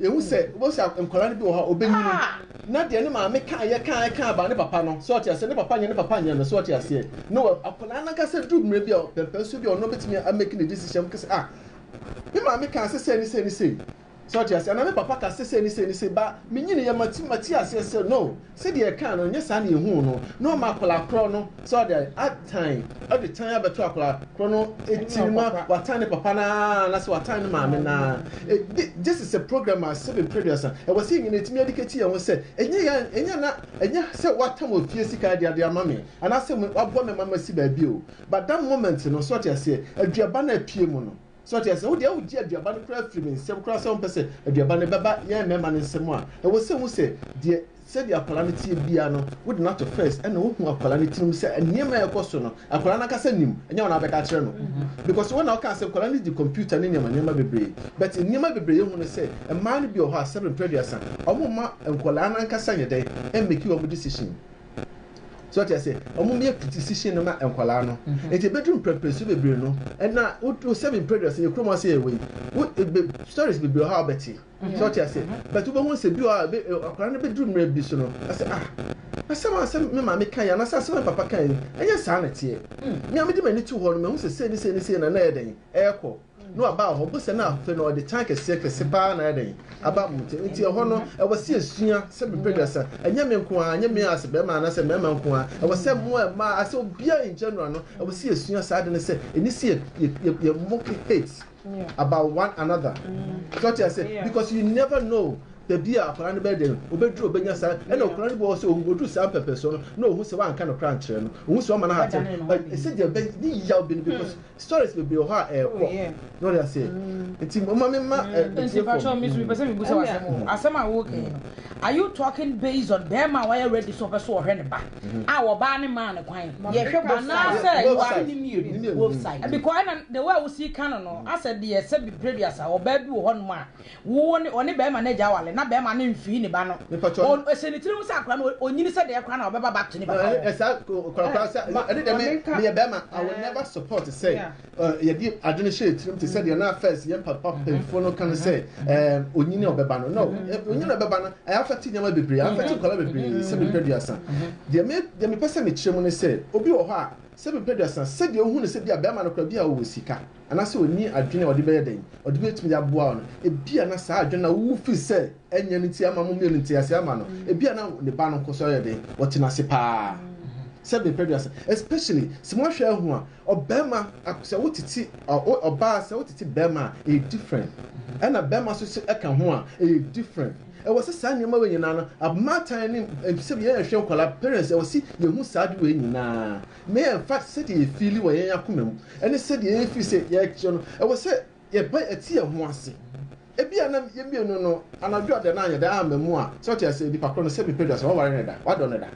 Yɛhu sɛ wobɛhu sɛ nkwadaa no bi wɔ hɔ a ɔbɛnyini na deɛ ne maame kaeɛ kaeɛ kaa baa ne papa no sɛ ɔte aseɛ ne papa nyɛ ne papa nyɛ no sɛ ɔte aseɛ na wɔ akwadaa no ankasa duru mmerɛ bi a pɛmpɛnso bi a ɔno bɛtumi amɛki ne decision mu kɛsɛ ah me maame kaa sɛ sɛ ne sɛ ne sɛ sɛ ɔte aseɛ anaa me papa ka sɛ sɛ ne sɛ ne sɛ ba menyiniiɛ mate mate aseɛ sɛ no Sɛdeɛ yɛkaa no, nyɛ saa na yɛhuu no, na ɔma akwadaa korɔ no sɛ ɔde atan, ɔde tan abɛto akwadaa korɔ no tiri ma watan ne papa no ara anaasɛ watan ne maame no ara. E, thi, this is a program a seven periods a ɛwɔ sɛ yɛn nyinaa yɛtumi adikati yɛn ho sɛ ɛnyɛ yɛn, ɛnyɛ na, ɛnyɛ sɛ watam wɔ fie sika de ade ama me anaasɛ me, waboa me ma masi baabi o, but that moment no, so ɔte aseɛ, aduaba no a apue mu no, So ɔte aseɛ? Wo deɛ wogye aduaba no koraa firi me nsam koraa sɛ wompɛ sɛ aduaba no bɛba yɛn mmarima no nsam a, ɛwɔ sɛ wohu sɛ deɛ sɛdeɛ akwadaa no teɛ biara no wode no ato first ɛna wohu akwadaa no tirim sɛ nneɛma a ɛrekɔ so no akwadaa no ankasa nim ɛnyɛ wo na wobɛka akyerɛ no because wo na wokaa sɛ nkwadaa no di computer ne nneɛma nneɛma bebree but nneɛma bebree yɛhu no sɛ mmaa no bi wɔ hɔ a sɛbe mprɛ aduasa wɔn mma nkwadaa no ankasa nyɛ dɛn ɛmmɛki wɔn decision so ɔte ase ɔmo yɛ physician no ma nkwadaa no nti ebedu mprɛmprɛ su bebree no ɛna o seven periods yɛ kurom ase yɛ wei o ebe stories bebree hɔ a ɔbɛte so ɔte ase but wobɛhu sɛ bi wɔ a ebe akwadaa no bedu mmerɛ bi so no ase ah asɛm a sɛ me maame kan yi anasɛ asɛm a papa kan yi ɛnyɛ saa na ɛteɛ mmea me de m'ani to hɔ no mehu sɛ sei ne sei ne sei na na ɛyɛ dɛn ɛɛkɔ Na ɔbaa wɔ hɔ, bosea no afe no, ɔde tan kɛseɛ kɛse pa ara na ayɛ dɛn? Aba mo ntam. Enti ɛhɔ no, ɛwɔ sɛ yɛsua sɛ bepɛ aduasa, ɛnyɛ me nko ara, ɛnyɛ me as barima anaasɛ mmarima nko ara, ɛwɔ sɛ mo a mmaa, asɛ obiara in general no, ɛwɔ sɛ yɛsua saa ade no sɛ ɛni sɛ yɛ, yɛ moke hate about one another. So ɔte ase, because you never know baabi a akwadaa no bɛyɛ dɛn, obɛduru obɛnya saa, ɛna akwadaa no bi wɔ hɔ sɛ ɔduru saa mpɛmpɛnsoɔ no, na ɔhu sɛ woanka no koraa nkyerɛ no, ɔhu sɛ woama no hate, ɛsɛ deɛ ɛbɛ, ne yaw bi no because Stories bebree wɔ hɔ a ɛrekɔ. Na ɔde ase. Nti moma me ma eh, me tie fam. Nti misu pɛ sɛ mi busa asɛm o. Asɛm a wo kɛn no, are you talking based on bɛɛma a wayɛ ready sɛ ɔpɛ sɛ ɔhwɛ ne ba a ɔbaa ne maa no kwan? Yɛhwɛ both sides. Anaa sɛ you are. Ɛni mmienu. Both sides. Because ɛna the way a wo si ka no no, asɛ deɛ sɛ bi prɛduasa ɔbaa bi wɔ hɔ nom a Wo wo ne ɔne bɛɛma no agya awale na bɛɛma no nfii ne ba no o ɛsɛ ne tiri ho sɛ akora no ɔnyini sɛ dɛɛ kora na ɔbɛba back to ne papa hɔ. Ɛsa kora kora sɛ ɛne dɛ me meyɛ bɛɛma I will never support sɛ yɛde ade no hyɛ yɛ tirim te sɛ deɛ na first yɛn papa panyinfoɔ no ka no sɛ ɛɛ ɔnyini ɔbɛba no no ɔnyini ɔbɛba no ɛyɛ afɛte nneɛma bebree afɛte nkwadaa bebree sɛ mepɛ duasa deɛ me deɛ mepɛ sɛ mekyerɛ mu ne sɛ obi wɔ hɔ a sɛ mepɛ duasa sɛdeɛ ɔhu no sɛ bi a bɛɛma no kora bi a ɔwɔ sika. anaasɛ onni adwene a ɔde bɛyɛ dɛn, ɔde betumi de aboa wo no. Ebia na saa adwene no a wuwu fi sɛ ɛnyɛ no nti ama mo mmienu nte ase ama no. Ebia na ne ba no nko so yɛ dɛn, ɔte no ase paa. Sɛ bepɛ aduasa, especially sɛ moahwɛ ahu a, ɔbarima sɛ wotete ɔbaa sɛ wotete barima a, ɛyɛ different. Ɛna barima so sɛ ɛka ho a, ɛyɛ different. Ɛwɔ sɛ saa nneɛma wei nyinaa no, abmatan ne sɛ yɛn yɛhwɛ nkwadaa, parents ɛwɔ sɛ yɛhu saa ade wei nyinaa. na ɛmfa sɛdeɛ yɛfiili wɔ yɛn akoma mu ne sɛdeɛ yɛn firi sɛ yɛrekyerɛ no, ɛwɔ sɛ yɛpae ɛte yɛn ho ase. Ebia na yɛn mmienu no anadwo a da no anyɛ da amma mu a, sɛ wote aseɛ, nipa korɔ no sɛ mepɛ dua sɛ waware no da, wadɔ no da.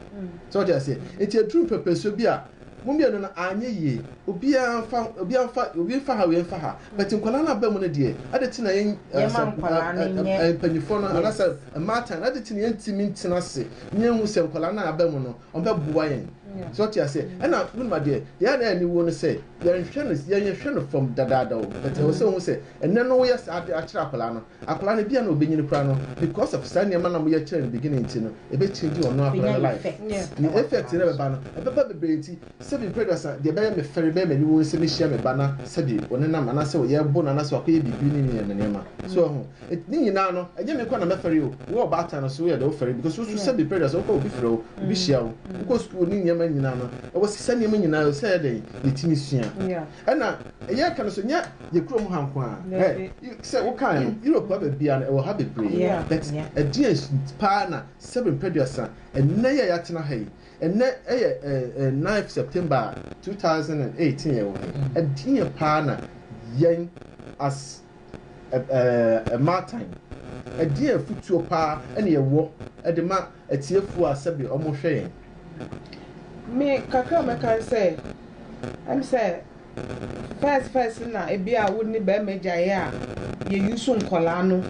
Sɛ wote aseɛ, nti aduru mpɛpɛsoɔ bi a mo mmienu no anyɛ yie, obiara mfa, obiara mfa, obi mfa ha, obi mfa ha, but nkwadaa no aba mu no deɛ, ade te na yɛn, Yɛma nkwadaa no nyɛ, mpanyinfoɔ no, anaasɛ yes. mmaatan no, ade te na yɛntumi ntena ase na yɛnhu sɛ nkwadaa no a aba mu no, ɔmpɛ boa yɛn sɛ ɔte aseɛ ɛna wonim adeɛ deɛ a na ɛni wo no sɛ yɛnhwɛ no yɛnhwɛ no fam dadaada o but ɛwɔ sɛ wohu sɛ ɛnɛ no woyɛ saa de akyerɛ akwadaa no akwadaa no bia na ɔbɛnyini koraa no because of saa nneɛma na moyɛ kyerɛ no beginning nti no ɛbɛkyingi ɔno akwadaa no life ne effect no ɛbɛba no ɛbɛba bebree nti sɛbi mpɛduasa deɛ ɛbɛyɛ me fɛre bɛyɛ m'ani wo sɛ mehyia me ba na sɛbi ɔnenam anaasɛ ɔyɛ ɛbo no anaasɛ wakɔyɛ biribi ne nneɛma nneɛma so ɛho Ne nyinaa no, ɛnyɛ me nko na mɛfɛre o. Wo ɔbaatan no so yɛ dɛ wofɛre because wo nso sɛbe pressure sɛ wokɔ obi frɛ wo, obi hyia wo, wokɔ sukuu ne nneɛma nyinaa no, ɛwɔ sɛ saa nneɛma nyinaa ɛwɔ sɛ yɛ dɛn? Yɛtumi sua. Ɛna yɛreka no so nyɛ yɛ kurom ha nko ara. Ɛ, sɛ wokae no, Europe ha baabiara no ɛwɔ ha bebree. But ɛdeɛn paa na sɛbe mprɛduasa ɛnnɛ yɛ a yɛatena ha yi, ɛnnɛ ɛyɛ ɛ, ninth September a, two thousand and eighteen yɛwɔ ha yi, ɛdeɛn paa na yɛn as Mmaatan, ɛdeɛn afotuo pa ara na yɛwɔ de ma atiefoɔ a sɛbe wɔhwɛ yɛn? Me kakra a mɛka ne sɛ, ɛm sɛ first first no na ebi a wone barima gyaeɛ a yɛ use nkwadaa no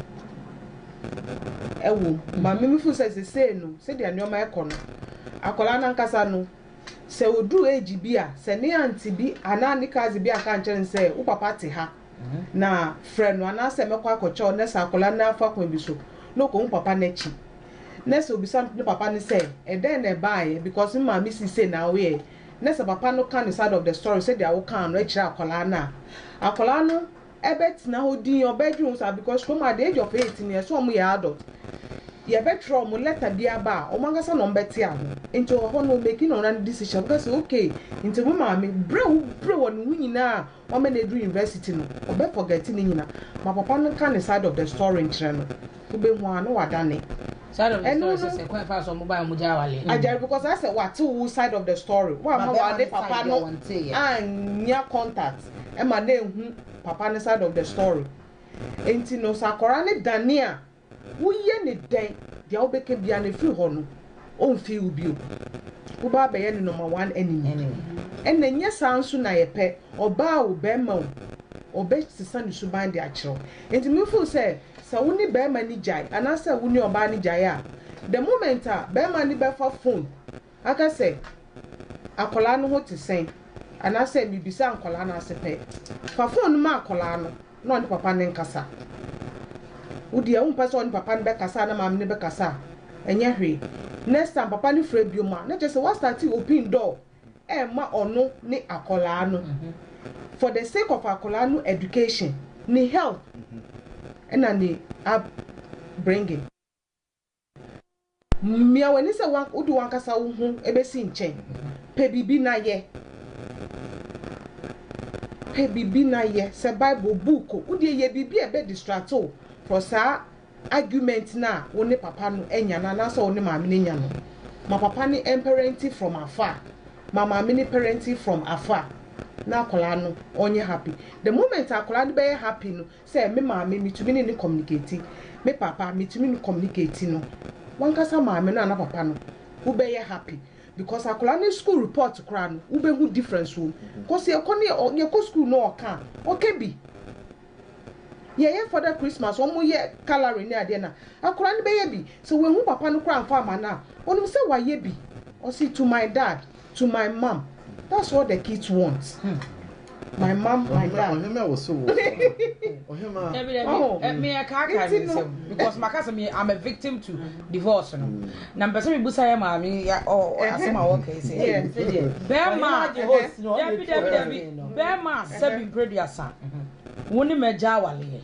wɔ mu. But me me feel sɛ sesei no sɛdeɛ nneɛma ɛkɔ no, akwadaa no ankasa no sɛ ɔduru age bi a, sɛ ne aunty bi anaa ne cousin bi anka ankyerɛ no sɛ wo papa te ha, na frɛ no anaasɛ mɛkɔ akɔkyɛ wo nɛsɛ akwadaa no afa kwan bi so na ɔkɔhu papa no akyi nɛsɛ ɔbisa ne papa no sɛ ɛdɛn na ɛbaeɛ because me maame sii sei na awoyɛɛ nɛsɛ papa no ka ne side of the story sɛdeɛ awokaa no akyerɛ akwadaa no a akwadaa no ɛbɛtena hɔ din ɔbɛdwe wo saa because kurom at the age of 8 no ɛsɛ ɔmo yɛ adult yɛbɛtwerɛ ɔmo lɛta bi aba a ɔmo ankasa na ɔmo bɛte ano nti ɔhɔ no ɔmɛki na ɔno ano decision ɔbɛka sɛ okay nti wo maame berɛ a wo berɛ wɔ ne ho nyinaa ɔmɛ no edu university no ɔbɛ forget ne nyina ma papa no ka ne side of the story nkyerɛ no wo bɛ hu aa na wa dane ɛno no agyare because ayɛ sɛ wa te wo side of the story wa ma wa ne papa no annya contact ɛma na ehu papa no side of the story ɛnti no sɛ akɔra no dane a. Woyɛ no dɛn? Deɛ wobɛka biara no, ɛfiri hɔ no, ɔmfii wo bio. Wobaa bɛyɛ ne number one enemy. Ɛna ɛnyɛ saa nso na yɛpɛ. Ɔbaa o, barima o, ɔbɛsesa ne suban de akyerɛ wo. Nti me feel sɛ, sɛ wo ne barima no gyae, anaasɛ wo ne ɔbaa no gyae a, the moment a barima no bɛfa phone Aka sɛ, Akwadaa no ho te sɛn? Anaasɛ, Mebisa nkwadaa no ase pɛ. Fa fon no ma akwadaa no na ɔne papa no nkasa. Wo deɛ wompɛ sɛ ɔne papa no bɛkasa anaa maame no bɛkasa a, ɛnyɛ hwee. Next time papa no frɛ biom a, na kyerɛ sɛ woastarte open door rema ɔno ne akwadaa no. For the sake of akwadaa no education, ne health na ne up bringing. Mia w'ani sɛ wode w'ankasa wo ho bɛsi nkyɛn. Pɛ biribi na yɛ. Pɛ biribi na yɛ. Sɛ Bible, book, wo deɛ yɛ biribi a ɛbɛ distract wo from saa argument no a wo ne papa no anya no anaasɛ wo ne maame no anya no. Ma papa no mparenting from afar. Ma maame no parenting from afar na akwadaa no ɔnyɛ happy. The moment akwadaa no bɛyɛ happy no, Sɛ me maame, metumi ne no kɔmunikeeti. Me papa, metumi no kɔmunikeeti no. Wankasa maame no anaa papa no, wo bɛ yɛ happy because akwadaa no school report koraa no, wo bɛ hu difference wɔ mu. Cos yɛ kɔ ne ɔ, yɛ kɔ school no ɔka a, ɔka bi. Yɛ yɛ father Christmas, ɔmo yɛ colouring ne adeɛ no a, akwadaa no bɛ yɛ bi. Sɛ w'anhu papa no koraa anfa amma no a, onim sɛ w'ayɛ bi. Ɔse to my dad. To my mom that's what the kids want hmm. my mom my dad. ɔhema wɔ so wɔ ɔhema. dabi dabi mi yɛ kaa kaa mi nsɛm because maka sɛ mi i'm a victim to divorce no na mpɛ sɛ mi busa yɛ maame ɔ asɛm a wɔka yi sɛ bɛrima dabi dabi dabi bɛrima sɛbi mpere duasa wɔn ne mɛ gya awale yɛ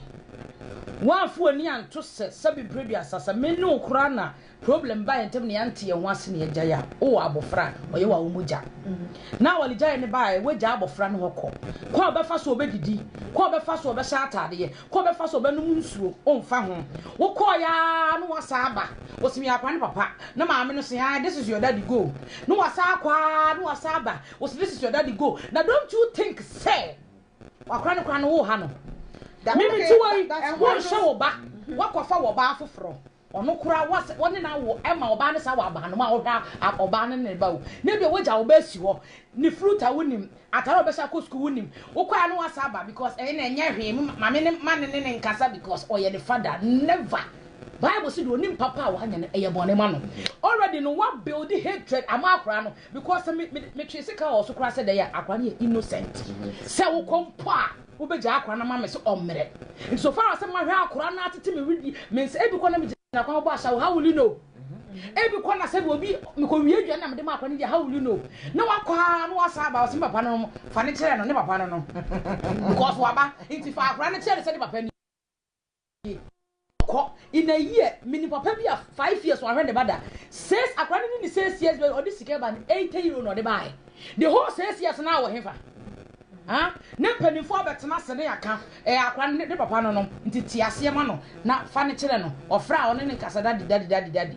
wɔn afɔ ani anto sɛ sɛbi mpere duasa sɛ mi ne okura na Problem baa yɛn ntam na yɛante yɛn ho ase na yɛagyae a, wowɔ abofra a, ɔyɛ wo a wo mogya. Na wɔgyae no baa a, woagyae abofra no hɔ kɔ. Kwan a ɔbɛfa so a ɔbɛdidi, kwan a ɔbɛfa so a ɔbɛhyɛ atadeɛ, kwan a ɔbɛfa so a ɔbɛnom nsuo, womfa ho. Wokɔeɛ ara na woasan aba. Wɔse meyɛ akwadaa no papa, na maame no se, ae, this is your daddy, go. Na wasan akɔ ara na wasan aba. Wɔse this is your daddy, go. Na don't you think sɛ wakora no koraa no woha no? Mimi, te wei, ɛho nhyɛ wo ba, woakɔfa wɔ baa foforɔ. Ɔno koraa wɔ sɛ ɔne no awo ma ɔbaa no saa wɔ abanoma a ɔhwɛ a ɔbaa no ne ne ba o na ebia wagya wo ba asi hɔ ne fruit a wonim atare a ɔbɛhyɛ akɔ sukuu wonim wokɔɛ a na wasa aba because ɛyɛ na ɛnyɛ hwee me maame ne ma ne ne ne nkasa because ɔyɛ ne fada never bible si de onim papa a wanyɛ no ɛyɛ bɔne ma no already no wa build hatred ama akora no because me me me twe sika wɔ so koraa sɛ dɛ akora no yɛ innocent sɛ wokɔ mpo a Wobegyaa akora no ama me sɛ ɔmmrɛ. Nti so far as sɛ mahwɛ akora no atete me were di me nsa ebi kɔ na me gyina kwan bɔ asaw how will you know? Ebi kɔ na sɛ bi obi mekɔ wie aduane na mede ma akora no di how will you know? Na wakɔ a na wasan aba ɔse me papa no no fa no kyerɛ no ne papa no no because waba nti fa akora no kyerɛ no sɛ ne papa ni. kɔ in a year mini papa bi a five years wahwɛ ne ba da six akora ne ne six years bɛ ɔde sika ba no eighty euro na ɔde baaɛ the whole six years na awɔ hefa ha ne mpanimfoɔ abɛtena ase ne aka ɛyɛ akora ne ne papa no no nti te aseɛ ma no na fa ne kyerɛ no ɔfrɛ a ɔne ne nkasa dadi dadi dadi dadi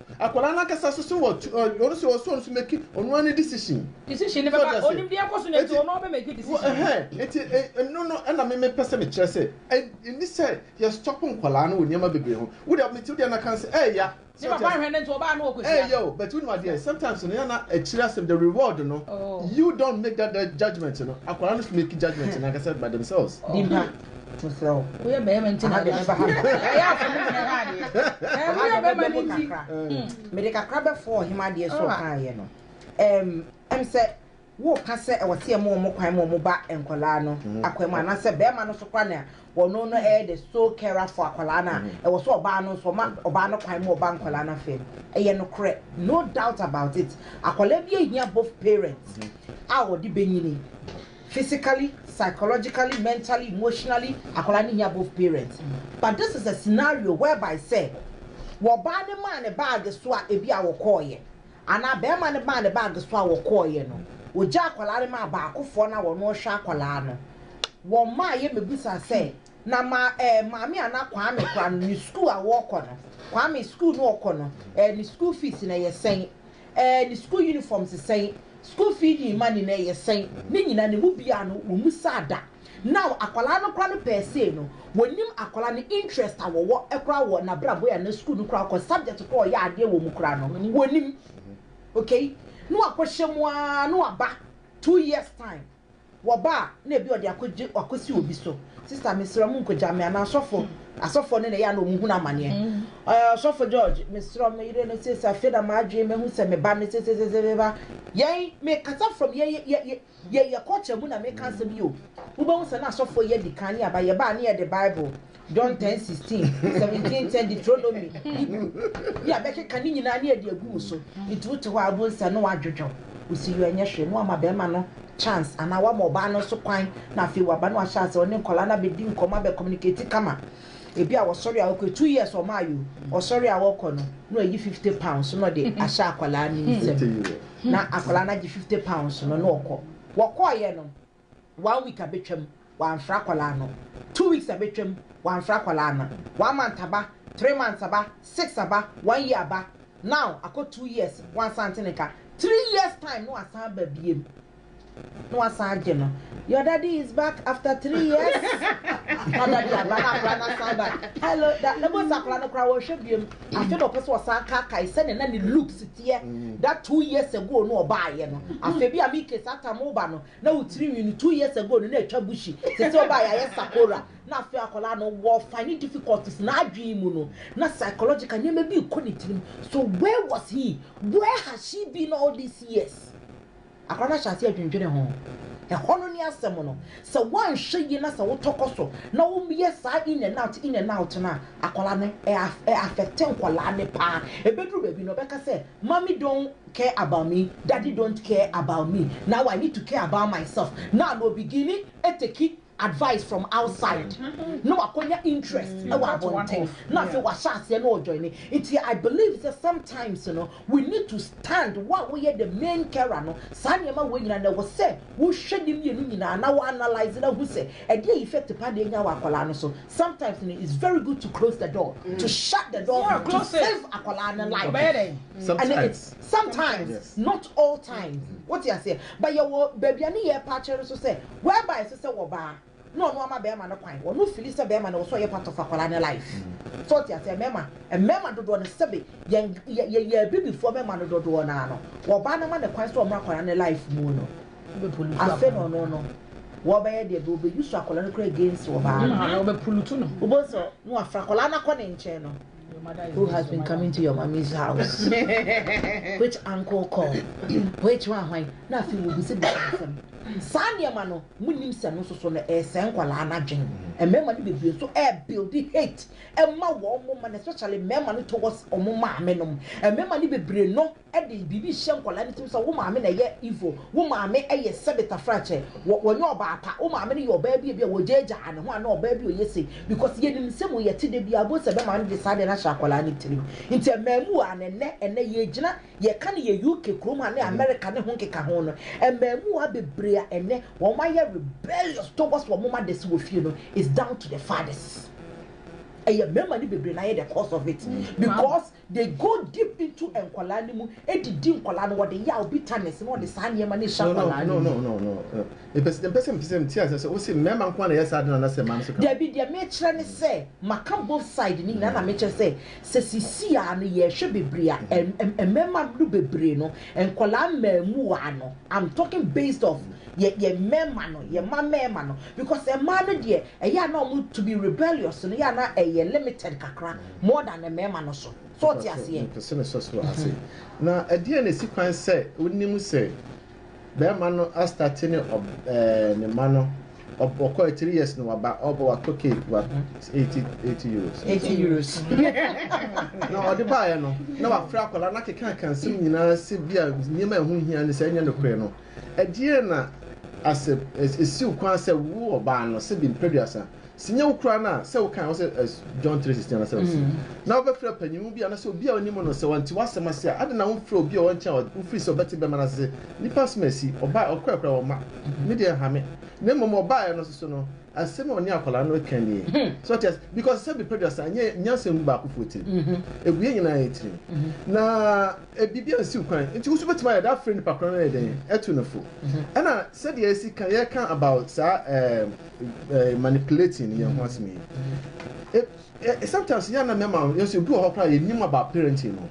Akwadaa no ankasa so sɛ ɔte ɔ ɔno sɛ ɔsɛ ɔno so meki ɔno ara ne decision. Decision no bɛba ɔnim deɛ ɛkɔ so na nti ɔno ɔbɛ meki decision. Ɛhɛn nti ɛ ɛno no ɛna me mepɛ sɛ mekyerɛ sɛ ɛ ɛni sɛ yɛ stop nkwadaa no wɔ nneɛma bebree ho wo deɛ mete wo deɛ na kan sɛ ɛɛya. Ne papa nhwɛ no nti ɔbaa no ɔkɔ hyia no. Ɛɛya o but wonim adeɛ sometimes no ɛna akyire asɛm the reward no you don't make that judgement no akwadaa no so meki judgement no ankasa by themselves. Dimpa woyɛ bɛrima nti na ɛyɛ asɛm woyɛ bɛrima no nti mede kakra bɛfo ɔhem adeɛ so ɔkaeɛ no ɛm sɛ woka sɛ ɛwɔ sɛ ɛmo ɔmo kwan ma ɔmo ba nkwadaa no akwan mu anaasɛ bɛrima no so kora na ɔno no ɛyɛ the sole carer for akwadaa no a ɛwɔ sɛ ɔbaa no nso ɔma ɔbaa no kwan mu ɔba nkwadaa no afɛ no ɛyɛ nokorɛ no doubt about it akwadaa bi ahia both parents a ɔde bɛnyini physically, psychologically, mentally, emotionally, akwadaa no hia both parents but this is a scenario whereby sɛ wɔbaa no maa ne bag so a ebi a wɔkɔɔyɛ anaa bɛrima no maa ne bag so a wɔkɔɔyɛ no ogya akwadaa no maa baakofoɔ no a wɔn ɔhwɛ akwadaa no wɔn maa yɛ mebisa sɛ na ma ɛɛ eh, maame ana kwame kora no ne sukuu a wɔkɔ no kwame sukuu no ɔkɔ no ɛɛ eh, ne sukuu fees na ɛyɛ sɛn ɛɛ ne sukuu unifɔm te sɛn, sukuu fee ne mma ne na ɛyɛ sɛn, ne nyinaa no ɛmu biaa no wɔ mu saa da. Now akwadaa no koraa no pɛɛ sei no wɔ nim akwadaa no interest a wɔ wɔ koraa wɔ na bra bɔ yɛ na sukuu no koraa kɔ subject koraa ɔyɛ adeɛ wɔ mu koraa no wɔ nim okay na wɔ akɔ hyɛ mu aa na wɔ aba two years time. Wɔba a na ebi ɔde akogye akɔsi obi so. Sista mesrɛ wo monkɔgya me anaa sɔfo, asɔfoɔ no na ɛyɛ a na wɔn hunu amaneɛ. Ɔyɛ ɔsɔfo George mesrɛ wo me yere no seesei afei na m'adwene mahu sɛ me ba no seseseseseba. Yɛn mekasa from yɛn yɛ yɛ yɛ yɛ culture mu na meka asɛm yi o. Wobɛhu sɛ na asɔfoɔ yi adi kan ne aba yɛba a ne yɛde Bible John ten sixteen, seventeen ten, Deuteronomy, Hebrew, ne abɛkeka ne nyinaa ne ɛde agu wo so. Nti wote hɔ a wohu sɛ ne wadwodwo, wo si yɔ ɛnyɛ hwee, ne wama bɛrima no chance anaa wama ɔbaa no nso kwan na afei waba no ahyɛ ase ɔne nkwadaa no abɛdi nkɔmmɔ abɛ communicate kama. Ebi a wɔsɔre a wɔkɔ two years wɔn ayɛ o, wɔsɔre a wɔkɔ no na wɔayi fifty pounds na ɔde ahyɛ akwadaa no nsam na akwadaa no agye fifty pounds no na ɔkɔ. Wɔkɔɔyɛ no one week abɛtwam wamfrɛ akwadaa no, two weeks abɛtwam wamfrɛ akwadaa no, one month aba, three months aba, six aba, one year aba, now akɔ two years wansan nte ne nka, three years time na wasan aba biom na wasan agye no, your daddy is back after three years na daddy aba na akwadaa no asan ba, hello da, na bosa akwadaa no koraa wɔnhwɛ biom, afei na ɔpɛ sɛ ɔsan kaakae sɛdeɛ na ne looks teɛ that two years ago na ɔbaayɛ no, afei bi a me case atam woba no, Na wo tiri nwi no two years ago no na atwa bushy sese ɔbaa yɛ ayɛ sakora na afei akwadaa no wɔ finding difficulties n'adwene mu no na psychological nneɛma bi rekɔ ne tirim so where was he where has she been all these years akwadaa no ahyɛ ase adwendwene ho ɛhɔ no ne asɛm no sɛ woanhwɛ yie na sɛ wotɔkɔ so na woyɛ saa in and out in and out no a akwadaa no ɛ affect nkwadaa no paa ebeduru baabi no ɔbɛka sɛ mommy don't care about me daddy don't care about me now I need to care about myself now na obigini ateki advice from outside na wakonya interest wɔ abɔnten na afei wahyɛ aseɛ na ɔjoine nti I believe sɛ sometimes no we need to stand wo a woyɛ the main carer no saa nneɛma wei nyinaa no ɛwɔ sɛ wohwɛ ne mmienu nyinaa na wo analyse na hu sɛ ɛdeɛ effect pa na ɛnya wɔ akwadaa no so sometimes no it's very good to close the door to shut the door to save akwadaa no life. Sometimes. Sometimes, yes. not all times. Mm. What you say? But you were baby and you patcher so say, whereby so say, waba. No, no, I'm a bear man, a quine, or no, Phyllis, a bear man, or so you're part of a colonial life. Mm. So what you say, Mema, and Mema do one sebby, young, ye, ye, ye, be before Mema do do one, or Bannerman, a quine, so I'm a colonial life, moon. I said, no, no, no. wɔbɛyɛ deɛ bɛ ɔbɛyi so akwadaa no kora against wɔ baa no ɔbɛpulutu no wobɔ sɛ no afra akwadaa no akɔ ne nkyɛn no Who has been coming to your mommy's house? Which uncle called? Which one hwan? Na afei wɔbisabisa nsɛm. Saa nneɛma no, monim sɛ no soso no ɛresɛe nkwadaa no adwene. Mmarima no bebree nso ɛrebuildi hate ɛma wɔn mma no especially mmarima no towards wɔn maame nom. Mmarima no bebree no. de biribi hyɛ nkwadaa no tirim sɛ wo maame na ɛyɛ evil, wo maame yɛ sɛbetafrakyɛ, wɔ wɔnyɛ ɔbaa pa, wo maame no yɛ ɔbaa bi a ebi a wɔgyaagyaa ne ho anaa ɔbaa bi a ɔyɛ sei, because yɛnim nsɛm wei yɛte da biara, bohu sɛ bɛmaa no de saa adeɛ no ahyɛ akwadaa no tirim. Nti ɛmmaamua no ɛnnɛ, ɛnnɛ yɛgyina, yɛka no yɛ UK kurom ha ne America ne ho nkeka ho no, ɛmmaamua bebree a ɛnnɛ wɔn ayɛ rebellious towards wɔn mothers wɔ fie no is down to the fathers. Ɛyɛ mmarima no bebree na ayɛ the cause of it, because They go deep into nkwadaa no mu de di nkwadaa no, wɔde yaw, bitterness na wɔde saa nneɛma no ɛhyɛ No no akwadaa no no mu. no no no no Mpɛ sɛ mpɛ sɛ mpɛ sɛ nti asɛ sɛ wose mmarima nko ara na ɛyɛ saa ade no anasɛ mmaa no nso ka ho. Dabi, deɛ mekyerɛ ne sɛ maka both side no nyinaa na mekyerɛ sɛ sɛ sesii ara no yɛhwɛ bebree a ɛm ɛm mmarima no bebree no nkwadaa mmaamuwaa no I'm talking based of yɛ yɛ mmarima no yɛ mma mmarima no because mmaa no deɛ ɛyɛ a na wɔn to be rebellious no yɛ a na ɛyɛ limited kakra more than mmarima no so. So wote aseɛ? Mepɛsɛ mesɔ so ase. Na ɛdeɛn na ɛsi kwan sɛ wonim sɛ barima no astate ne ne mma no ɔkɔ a three years na waba ɔba wakɔ cake wa eighty eighty euros. eighty euros. na ɔde baeɛ no na wafrɛ akwadaa no akeka akansɛm nyinaa sɛ bi a nneɛma a ɛho hia ne sɛ ɛnyɛ nokorɛ no. Ɛdeɛn na asɛ ɛsi wo kwan sɛ wo ɔbaa no sɛ bi mprɛduasa, sɛ nyɛ wo koraa no a, sɛ wo kae hɔ sɛ as John 3:16 anasɛ ɔse na wobɛfrɛ panyinmu bi anasɛ obi a wonim no sɛ ɔnte w'asɛm ase a, adɛn na womfrɛ obi a ɔwɔ nkyɛn a wo firi sɛ ɔbɛte bɛma no ase sɛ nnipa asɛm asi, ɔbae, ɔkɔɛ koraa wɔmma me deɛ ɛnha me, na mmom ɔbaeɛ no nso so no asɛm a ɔne akwadaa no reka nie, so ɔte ase, because sɛ bi mprɛduasa ɛnyɛ nyansa mu baakofoɔ tirim, ɛgu yɛn nyinaa yɛn tirim, na. Biribi ansiw kwan, enti wo nso wubetumi ayɛ dɛn afrɛ nipa korɔn no ayɛ dɛn atu no fo? Ɛna sɛdeɛ yɛasi ka, yɛreka about saa ɛɛ manipulating no yɛn ho asɛm yi. Ɛ ɛ sometimes yɛn na mmarima no, yɛn nso ebi wɔ hɔ koraa yɛnim about parenting no.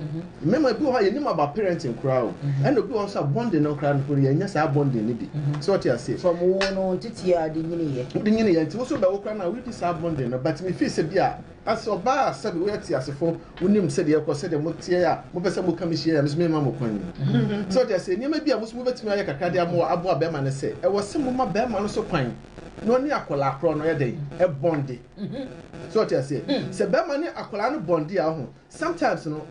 Mmarima ebi wɔ hɔ a yɛnim about parenting koraa o. Ɛna obi wɔ hɔ nso a bonding no koraa no yɛnyɛ saa bonding no bi. So wote aseɛ? So wɔwoo no nteteɛ a ɔde nyiniiɛ. Ɔde nyiniiɛ nti wo nso bɛwo koraa no a woredi saa bonding no but me feel sɛ bi a. Na sɛ ɔba a, sɛdeɛ woyɛ teasefoɔ, wonim sɛdeɛ ɛrekɔ, sɛdeɛ moteɛ a, mopɛ sɛ moka me hyia a, me nso merema mo kwan. So wote aseɛ? Nneɛma bi a mo nso mobɛtumi ayɛ kakra de aboa aboa barima ne sɛ, ɛwɔ sɛ moma barima no nso kwan na ɔne akwadaa korɔ no yɛ dɛn? Ɛbɔnde. So wote aseɛ? Sɛ barima ne akwadaa no bɔnde a, woahu, sometimes no,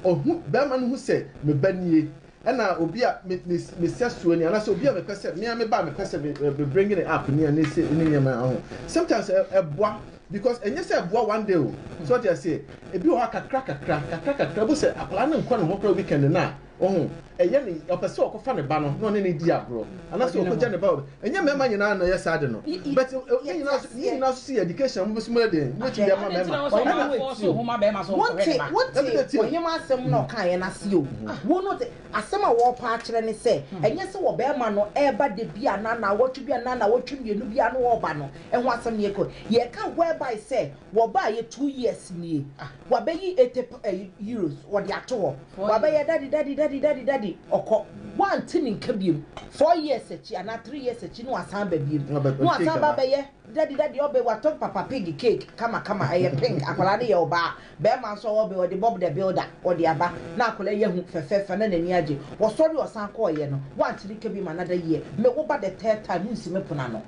ɔhu, barima no hu sɛ, me ba nie, Ɛna obi a me me me sɛsoɔ ni anaasɛ obi a mepɛ sɛ me a me ba a mepɛ sɛ me me bring ne app ni ne se ne nneɛma ho sometimes ɛ ɛboa because ɛnyɛ sɛ ɛboa one day o so ɔte aseɛ ebi wɔ hɔ a kakra kakra kakra kakra bo sɛ akwadaa no nkɔ ne ho koraa weekend no a ɔho ɛyɛ ne ɔpɛ sɛ ɔkɔfa ne ba no na ɔne ne di agorɔ anaasɛ ɔkɔgya ne ba Ɛnyɛ mmarima nyinaa na ɔyɛ saa ade no. But ne nyinaa nso, ne nyinaa nso sɛ yɛ education a mobɛso mu yɛ den, mobɛtumi de ama mmarima. Ɔhene na ɛte o. Wote, wote ɔhene asɛm na ɔkaeɛ no ase o. Wo no te, asɛm a wɔrepɛ akyerɛ ne sɛ, ɛnyɛ sɛ ɔbarima no reba da bi anaa nnawɔtwe bi anaa nnawɔtwe mmienu biara na ɔreba no ho asɛm na yɛreka o. Yɛreka whereby sɛ Wɔbaeɛ two years nie ah. Wabɛyi ete pa ɛyi euros wɔde ato hɔ. Wabɛyɛ daddy daddy daddy daddy daddy ɔkɔ. Woante ne nka biom. Four years akyi anaa three years akyi na wasan aba biom. Na wasan aba abɛyɛ daddy daddy ɔbe watɔ papa pig cake kama kama ɛyɛ pink akwadaa no yɛ ɔbaa. Barima nso ɔbe ɔde Bob the builder ɔde aba na akwadaa yi ahu fɛfɛɛfɛ na n'ani agye. Wɔsɔre ɔsan kɔeɛ no woante ne nka biom another year. Me wo ba the third time wonsi me pono ano.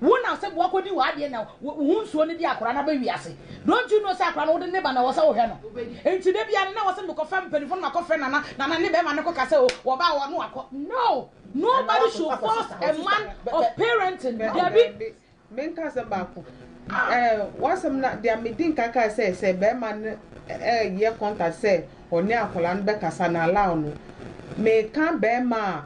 Wo na ɔsɛ boa kɔdi w'adeɛ na wo ho nsuo no de akora no aba wiase. Don't you know sɛ akora no wode ne ba na ɛwɔ sɛ wohwɛ no. Nti da biara no na ɛwɔ sɛ mekɔ frɛ mpaninfoɔ no makɔ frɛ Nana, Nana ne bɛrima no kɔ ka sɛ o wɔba wɔ no akɔ. No! Nobody should force a man of parenting, dabi. Me nka asɛm baako. Eh, w'asɛm na deɛ me di nka kae sɛ sɛ bɛrima no eh, yɛ contact sɛ ɔne akora no bɛkasa na allow no. Me ka bɛrima a.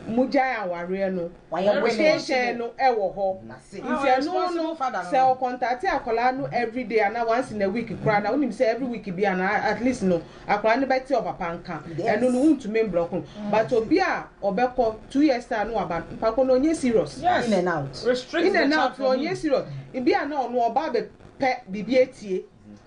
mo gyae awareɛ no verification no wɔ hɔ nti ɛno no sɛ ɔkɔntate akwadaa no everyday ana once in a week koraa na wonim sɛ every week bi ana at least no akwadaa no bɛte ɔpapa nka ɛno no wontumi mblɔk no mm. but obi a ɔbɛkɔ two years time no waba mpako no ɔnyɛ serious yes. in and out in and out no ɔnyɛ serious ebi a na ɔno ɔba abɛpɛ biribi atie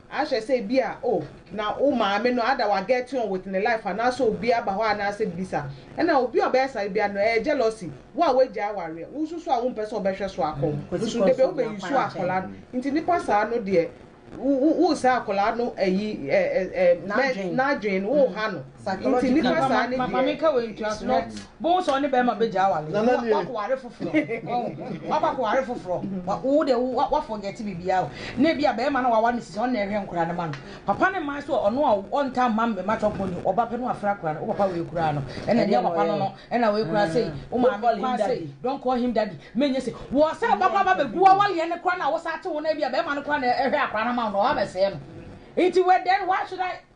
Ahwɛ sɛ ebia oh na wo maame no ada wa getting on with ne life anaasɛ obi aba hɔ anaasɛ bisa. Ɛna obi a ɔbɛyɛ saa bia no ɛyɛ jealousy. Wo a w'agyae awareɛ, wo nso so a wompɛ sɛ ɔbɛhwɛ so akɔ mu nso debia wo bɛ use akwadaa no. Nti nipa saa no deɛ wo wo wo saa akwadaa no ayi eh eh eh n'adwene no, wo ha no. Nti nipa saa ne deɛ. Mame nka wei ntua so na bohu sɛ ɔne bɛrima bɛgya awale. Nana nie. Wakɔ ware foforɔ. Wakɔ akɔ ware foforɔ. Wo de wo wa forget bibia o. Na ebi a bɛrima no wawa no sisi ɔno na ɛhwɛ nkora no ma no. Papa ne mma so ɔno a ɔntaa mma mma chop money ɔba pɛ no wafra akora no. Wo papa wei koraa no ɛna ɛnyɛ papa no no ɛna wei koraa sei. Wo maame koraa sei. Don't call him daddy. Menyɛ sei. Wɔ sɛ bɛkɔ aba bɛgu wawaleɛ no koraa no a wo saa te ho no ebi a bɛrima no koraa na ɛhwɛ akora no ma wo no ɔba bɛsɛɛ no. Nti wɛ then why should I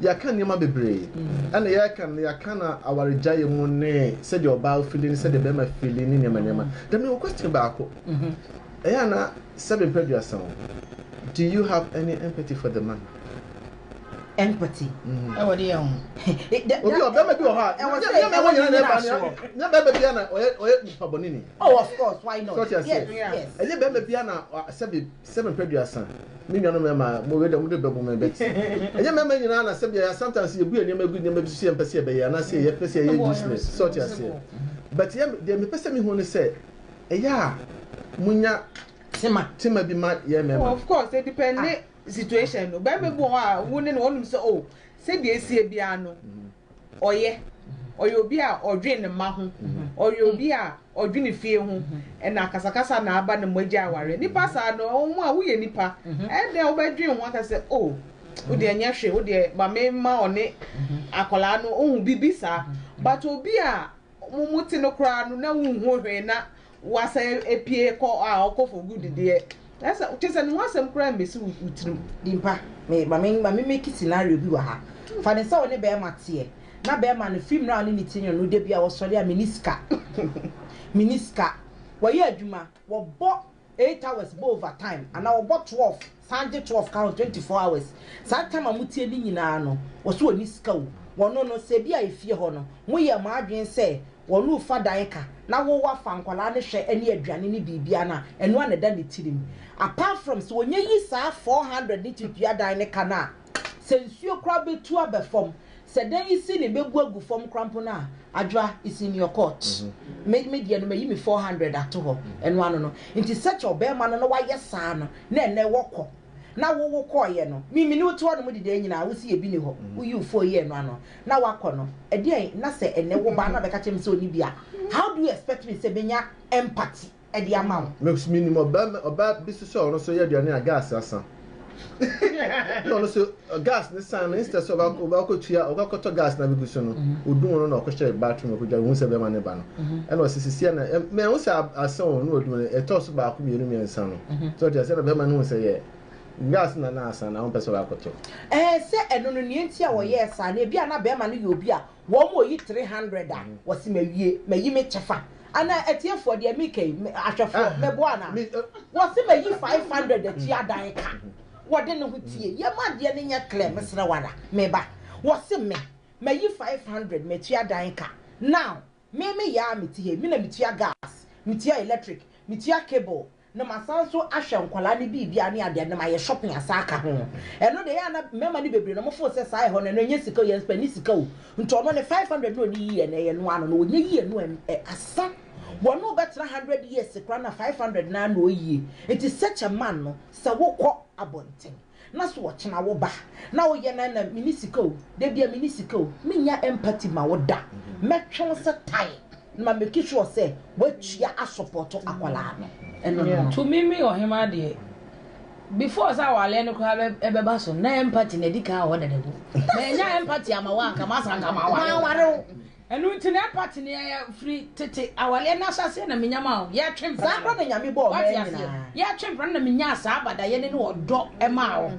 Yɛaka nneɛma bebree. Ɛna yɛka no yɛaka no awaregyaeɛ mu ne sɛdeɛ ɔbaa fili ne sɛdeɛ bɛrima fili ne nneɛma nneɛma. Then mewɔ question baako. Ɛyɛ ana sɛ bɛmpɛ aduasa o. Do you have any empathy for the man? Empathy? Ɛwɔ de yɛ ho. Obi wɔ bɛrima bi wɔ hɔ a. Ɛwɔ sɛ yɛn bɛrima nyina na ɛba ne yɛ. Nyɛ bɛrima bi ana ɔyɛ ɔyɛ nipa bɔne ni. Oh of course why not? Yes yes. Ɛnyɛ bɛrima bi ana sɛbi Sɛ mepɛ duasa, me nuanom mmarima a mowɔ dɛm no bɛbɔ me abati. Ɛnyɛ mmarima nyinaa na sɛbea yɛ a sometimes yɛbu yɛn nneɛma gu nneɛma bi so sɛ yɛmpɛ sɛ yɛbɛyɛ anaasɛ yɛpɛ sɛ yɛyɛ useless. So wote aseɛ? But yɛ deɛ mepɛ sɛ mehu ne sɛ ɛyɛ a monya tema bi ma yɛn mmarima. Oh of course e depend ne situation no. Barima bi wɔ hɔ a wo ne no wɔnom sɛ oh sɛdeɛ ɛsiɛ biara no. ɔyɛ, ɔyɛ obi a ɔdwen ne mma ho, ɔyɛ obi a ɔdwen fie ho, ɛna akasakasa na aba na moagya awareɛ. Nnipa saa no, wɔn a woyɛ nnipa, ɛyɛ dɛn a wobɛdwen ho aka sɛ, o, wo deɛ nyɛ hwee, wo deɛ ma memma ɔne akwadaa no, wohu, biribi saa. But obi a mote no koraa no na wonhu hwee na Wasa epie kɔ a ɔkɔ for good deɛ ɛsɛ kyesɛ ne ho asɛm koraa mmesi wo wo tirim. Dimpa me ma me ma me make scenario bi wɔ ha fa ne sɛ wo ne bɛɛma teɛ na bɛɛma no firi mmerɛ a ɔne ne tie no da bi a ɔsɔre a meni sika meni sika wayɛ adwuma wɔbɔ eight hours bɔ over time anaa wɔbɔ twelve San gye twelve ka ho twenty four hours saa time a motie no nyinaa no wɔse wɔnni sika o wɔno no sɛ bi a efie hɔ no moyɛɛ mo adwene sɛ wɔno refa dan ka na wo wafa nkwadaa no hwɛ ne aduane ne biribiara no a ɛno a na ɛda ne tirim apart from sɛ wɔnya yi saa four hundred no ti dua dan no ka no a Sɛ nsuo koraa bɛtu abɛ fam, sɛ dan yi ceiling bɛbu agu fam koraa mpo no a, Adwoa, it's in your court. Me me deɛ no mayi me four hundred ato hɔ, ɛno ano no. Nti such a ɔbarima no na wayɛ saa no, na ɛnnɛ wɔkɔ, na wo wo kɔeɛ no, me me ne wo te hɔ nom de dan nyinaa, wo se yɛ bi ni hɔ, wo yi wo phone yɛ ɛno ano, na wakɔ no, ɛdeɛn na sɛ ɛnnɛ wo ba na bɛka kyerɛ me sɛ ɔnni bi a, how do you expect me sɛ mɛnya empathy? de ama wo. Me nso menim ɔbarima, ɔbaa bi nso sɛ ɔno nso yɛ aduane a gas asa. na ɔno nso gas ne san no instead sɛ ɔba ɔba akɔtua ɔkɔ akɔtɔ gas na bɛgu so no ɔdum no na ɔkɔhyɛ bathroom ɔkɔdwa ɔhu sɛ bɛrima ne ba no ɛna ɔsɛ sisi ɛna ɛ- mɛ ɛho sɛ ab- asa o na ɔdum no ɛtɔ so baako mmienu mmiɛnsa no sɛ ɔte asɛ na bɛrima no hu sɛ yɛ gas na na asa na ɔmpɛ sɛ ɔba akɔtɔ Ɛɛ sɛ ɛno no nea nti a wɔyɛɛ saa no ebi a na bɛrima no yɛ obi a Wɔn a wɔyi three hundred a, wɔse mawie, mayi me kyɛfa. Anaa atiefoɔ, deɛ mereka yi, ahwɛfoɔ, mɛboa anaa? Wɔse mayi five hundred akyi adan ka. Wɔde ne ho tie yɛ ma adeɛ no nyɛ clear, mesrɛ wo ara, meba. Wɔse me, mayi five hundred, matua dan ka. Now, me meyɛ ara mete ha yi, me na metua gas, metua electric, metua cable, na masan nso ahwɛ nkwadaa ne biribiara ne adeade na mayɛ shopping asan aka ho ɛno deɛ ɛyɛ a na mmarima no bebree no wɔfo sɛ saa ɛhɔ no ɛno ɛnyɛ sika o yɛn nso ɛne sika o nti ɔno ne five hundred na ɔni yie na ɛyɛ no ano na ɔnyɛ yie no ɛ asa wɔn o bɛtena hundred years kora na five hundred na na ɔyie nti such a man no sɛ wokɔ abɔnten Na so ɔkyena wo ba na woyɛ no na menni sika o, da bi a menni sika o, mennya empathy ma wo da. Mɛtwe wo sɛ tae na ma make sure sɛ woatua asɔpɔto akwadaa no. Ɛno no. To me me ɔhemaa deɛ, before sɛ awaleɛ no koraa bɛ ɛbɛba so no na empathy no adi kan wɔ hɔ dada bu. Mannya empathy ama wo a anka masa anka maware wo. Ɛno nti na ɛba te nea yɛ firi tete awaleɛ no ahyɛaseɛ na menya maa wo, yɛ twe mpena no, woate aseɛ, yɛ twe mpena no na menyaa saa badayɛne ne ɔdɔ maa wo.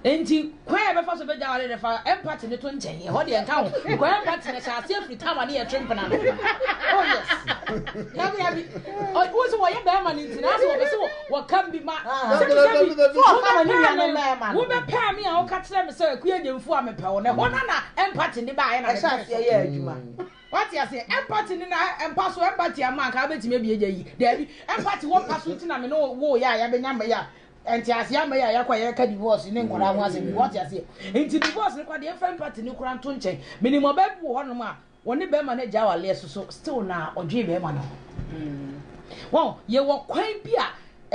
Nti kwan a yɛbɛfa so bɛgya awaleɛ no fa empathy no to nkyɛn, ɛhɔ deɛ nka ho, because empathy no ɛhyɛ aseɛ firi time a ne yɛ twe mpena no, oh yes, dabi dabi, wo se wɔyɛ bɛɛma no nti na ase wɔpɛ se wɔ. Wɔkam bi ma. Sɛ meka bi, wobɛpaa me o, wobɛpaa me a woka kyerɛ me sɛ Akua Gyamfo a mepɛ wo no, ɛhɔ na na empathy ne baeɛ na mepɛ so. yɛ adwuma. Wate aseɛ? Empathy ne na mpa so, empathy ama anka wobɛtumi abie gya yi. Daabi, empathy wɔ mpa so nti na me ne wo woo yɛ a yɛabɛnya mma yi a nteaseɛ ama yi a yɛakɔ a yɛreka divorce ne nkwadaa ho asɛm yi. Wate aseɛ? Nti divorce no koraa deɛ mfa empathy no koraa nto nkyɛn. Menim ɔbaa bi wɔ hɔnom a Wɔne bɛɛma no agya awaleɛ so so still na ɔdwee bɛɛma no ho. Wɔn, yɛwɔ kwan bi a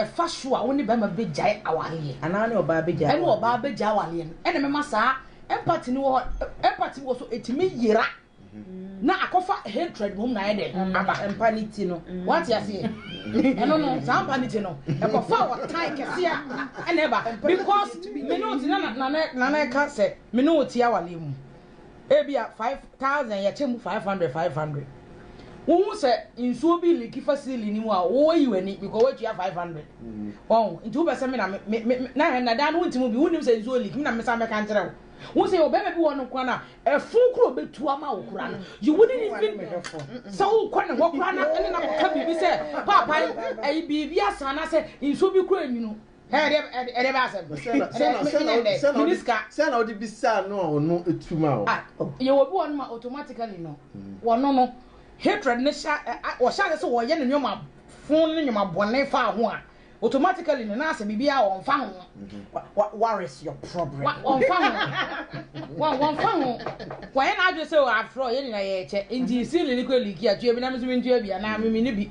ɛfa so a wone bɛɛma bɛgyae awaleɛ. Anaa ne ɔbaa bɛgyae awaleɛ. Ɛne ɔbaa bɛgyae awaleɛ no. Ɛna mɛma saa empathy no wɔ hɔ, empathy wɔ so ɛtumi yera na akɔfa hatred mom na ayɛ dɛ aba. Ɛmpa ne ti no. Wate aseɛ? Ɛno no, saa mpa ne ti no, ɛkɔfa ɔtan kɛseɛ ɛna ɛba. Because me ne wo ti na na na na ɛka sɛ me ne wo ti awaleɛ mu. Ebia five thousand yɛkyɛ mu five hundred five hundred. Wohu sɛ nsuo bi liki fa siili no mu a woyi w'ani because woatua five hundred. Wɔn nti wopɛ sɛ me na me me me na hɛn na daa no wonti mu bi wonim sɛ nsuo liki me na me san bɛka nkyerɛ wo. Wohu sɛ ɔbɛrima bi wɔ no kora no a ɛfun kora ɔbɛtu ama wo kora no you wouldn't even sɛ wokɔ ne hɔ kora na ɛne na kɔka biribi sɛ paapa ɛyi biribi asa anasɛ nsuo bi kora enwunu. Sɛn na wode bisaa no a ɔno tu ma wo? Ah, yɛwɔ bi wɔnom a automatically no, mm. wɔno no, hatred no hyɛ, wɔhyɛ ase sɛ wɔyɛ no nneɛma fo ne nneɛma bɔne fa ho a, automatically no, na asɛ biribi a wɔmfa ho. Mm-hmm. What is your problem? Wɔmfa ho. Wɔmfa ho. Wɔyɛ n'adwene sɛ afrɛ ɔyɛ ne na yɛkyɛ, nti mm-hmm. sili no kɔ liki a, tuo bi na me nso mentua bi anaa memene bi.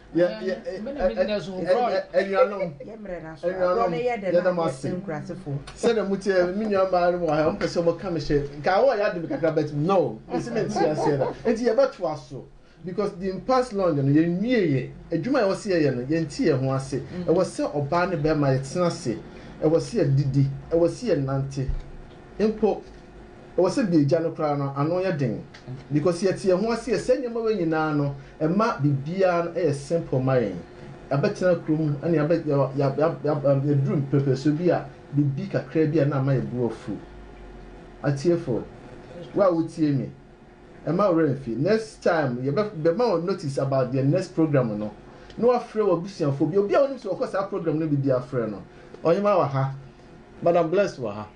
anuanom yɛda mo ase sɛdeɛ moteɛ me nua mmaa no mu ahɛ ɔmpɛ sɛ ɔmɔka me hyɛ nka awɔ yɛ ade me kakra but no ɛsi me nte aseɛ da enti yɛbɛtoa so because the past long no yɛnwie yɛ adwuma a ɛwɔ sɛ yɛyɛ no yɛnte yɛn ho ase mm-hmm. ɛwɔ sɛ ɔbaa ne bɛrima yɛtena ase ɛwɔ sɛ yɛdidi ɛwɔ sɛ yɛnante mpo Ɛwɔ sɛ bi agya no koraa no ano yɛ den because yɛte yɛn ho ase yɛ saa nneɛma wei nyinaa no ɛma biribiara no ɛyɛ simple ma yɛn yɛabɛtena kuro mu ɛne yɛabɛ yɛabɛ yɛduru mpɛpɛsoɔ bi a biribi kakra bi a na ama yɛ bo afu atiefo wo a wotie mi ɛma ɔwerɛ mfi next time yɛbɛ bɛma wɔn notice about the next program no na wafrɛ wɔ abusuafoɔ bi obi a wɔnim sɛ wɔkɔ saa program no bi bi afrɛ no ɔhema wɔ ha madam blessed wɔ ha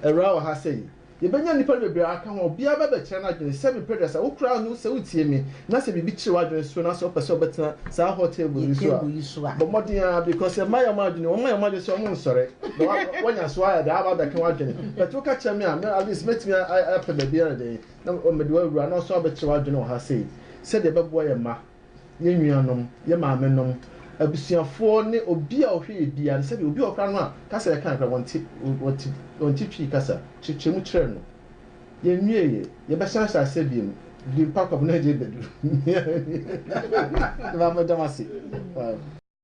Awuraa wɔ ha sɛi. Yɛbɛnya nnipa no bebree aka ho a obiara bɛbɛkyerɛ n'adwene sɛ mepɛ dɛ sɛ wo koraa no sɛ wotie me na sɛ biribi kyere w'adwene so na sɛ wopɛ sɛ wobɛtena saa hɔ table yi so a, bɔ mmɔden ara because yɛmma yɛn wɔn adwene, wɔmma yɛn wɔn adwene sɛ wɔn nsɔre na wɔanya so ayɛ dɛ aba abɛka w'adwene but woka kyerɛ me a me at least mɛtumi apɛ baabi ayɛ dɛn na mede wo awura na wo nso abɛkyere w'adwene wɔ ha sɛi sɛdeɛ ɛbɛboa yɛn mma. yɛn nuanom, yɛn maamenom, abusuafoɔ ne obi a ɔhwɛ yɛn biara no, sɛdeɛ obi wɔ hɔ koraa no a, kasa a yɛka no koraa wɔnte, wɔte, wɔnte Twi kasa, kyekyɛ mu kyerɛ no. Yɛnwieeɛ, yɛbɛsan ahyɛ aseɛ bio no, Dimpak ɔbena agye bɛduru. Maame, meda mo ase.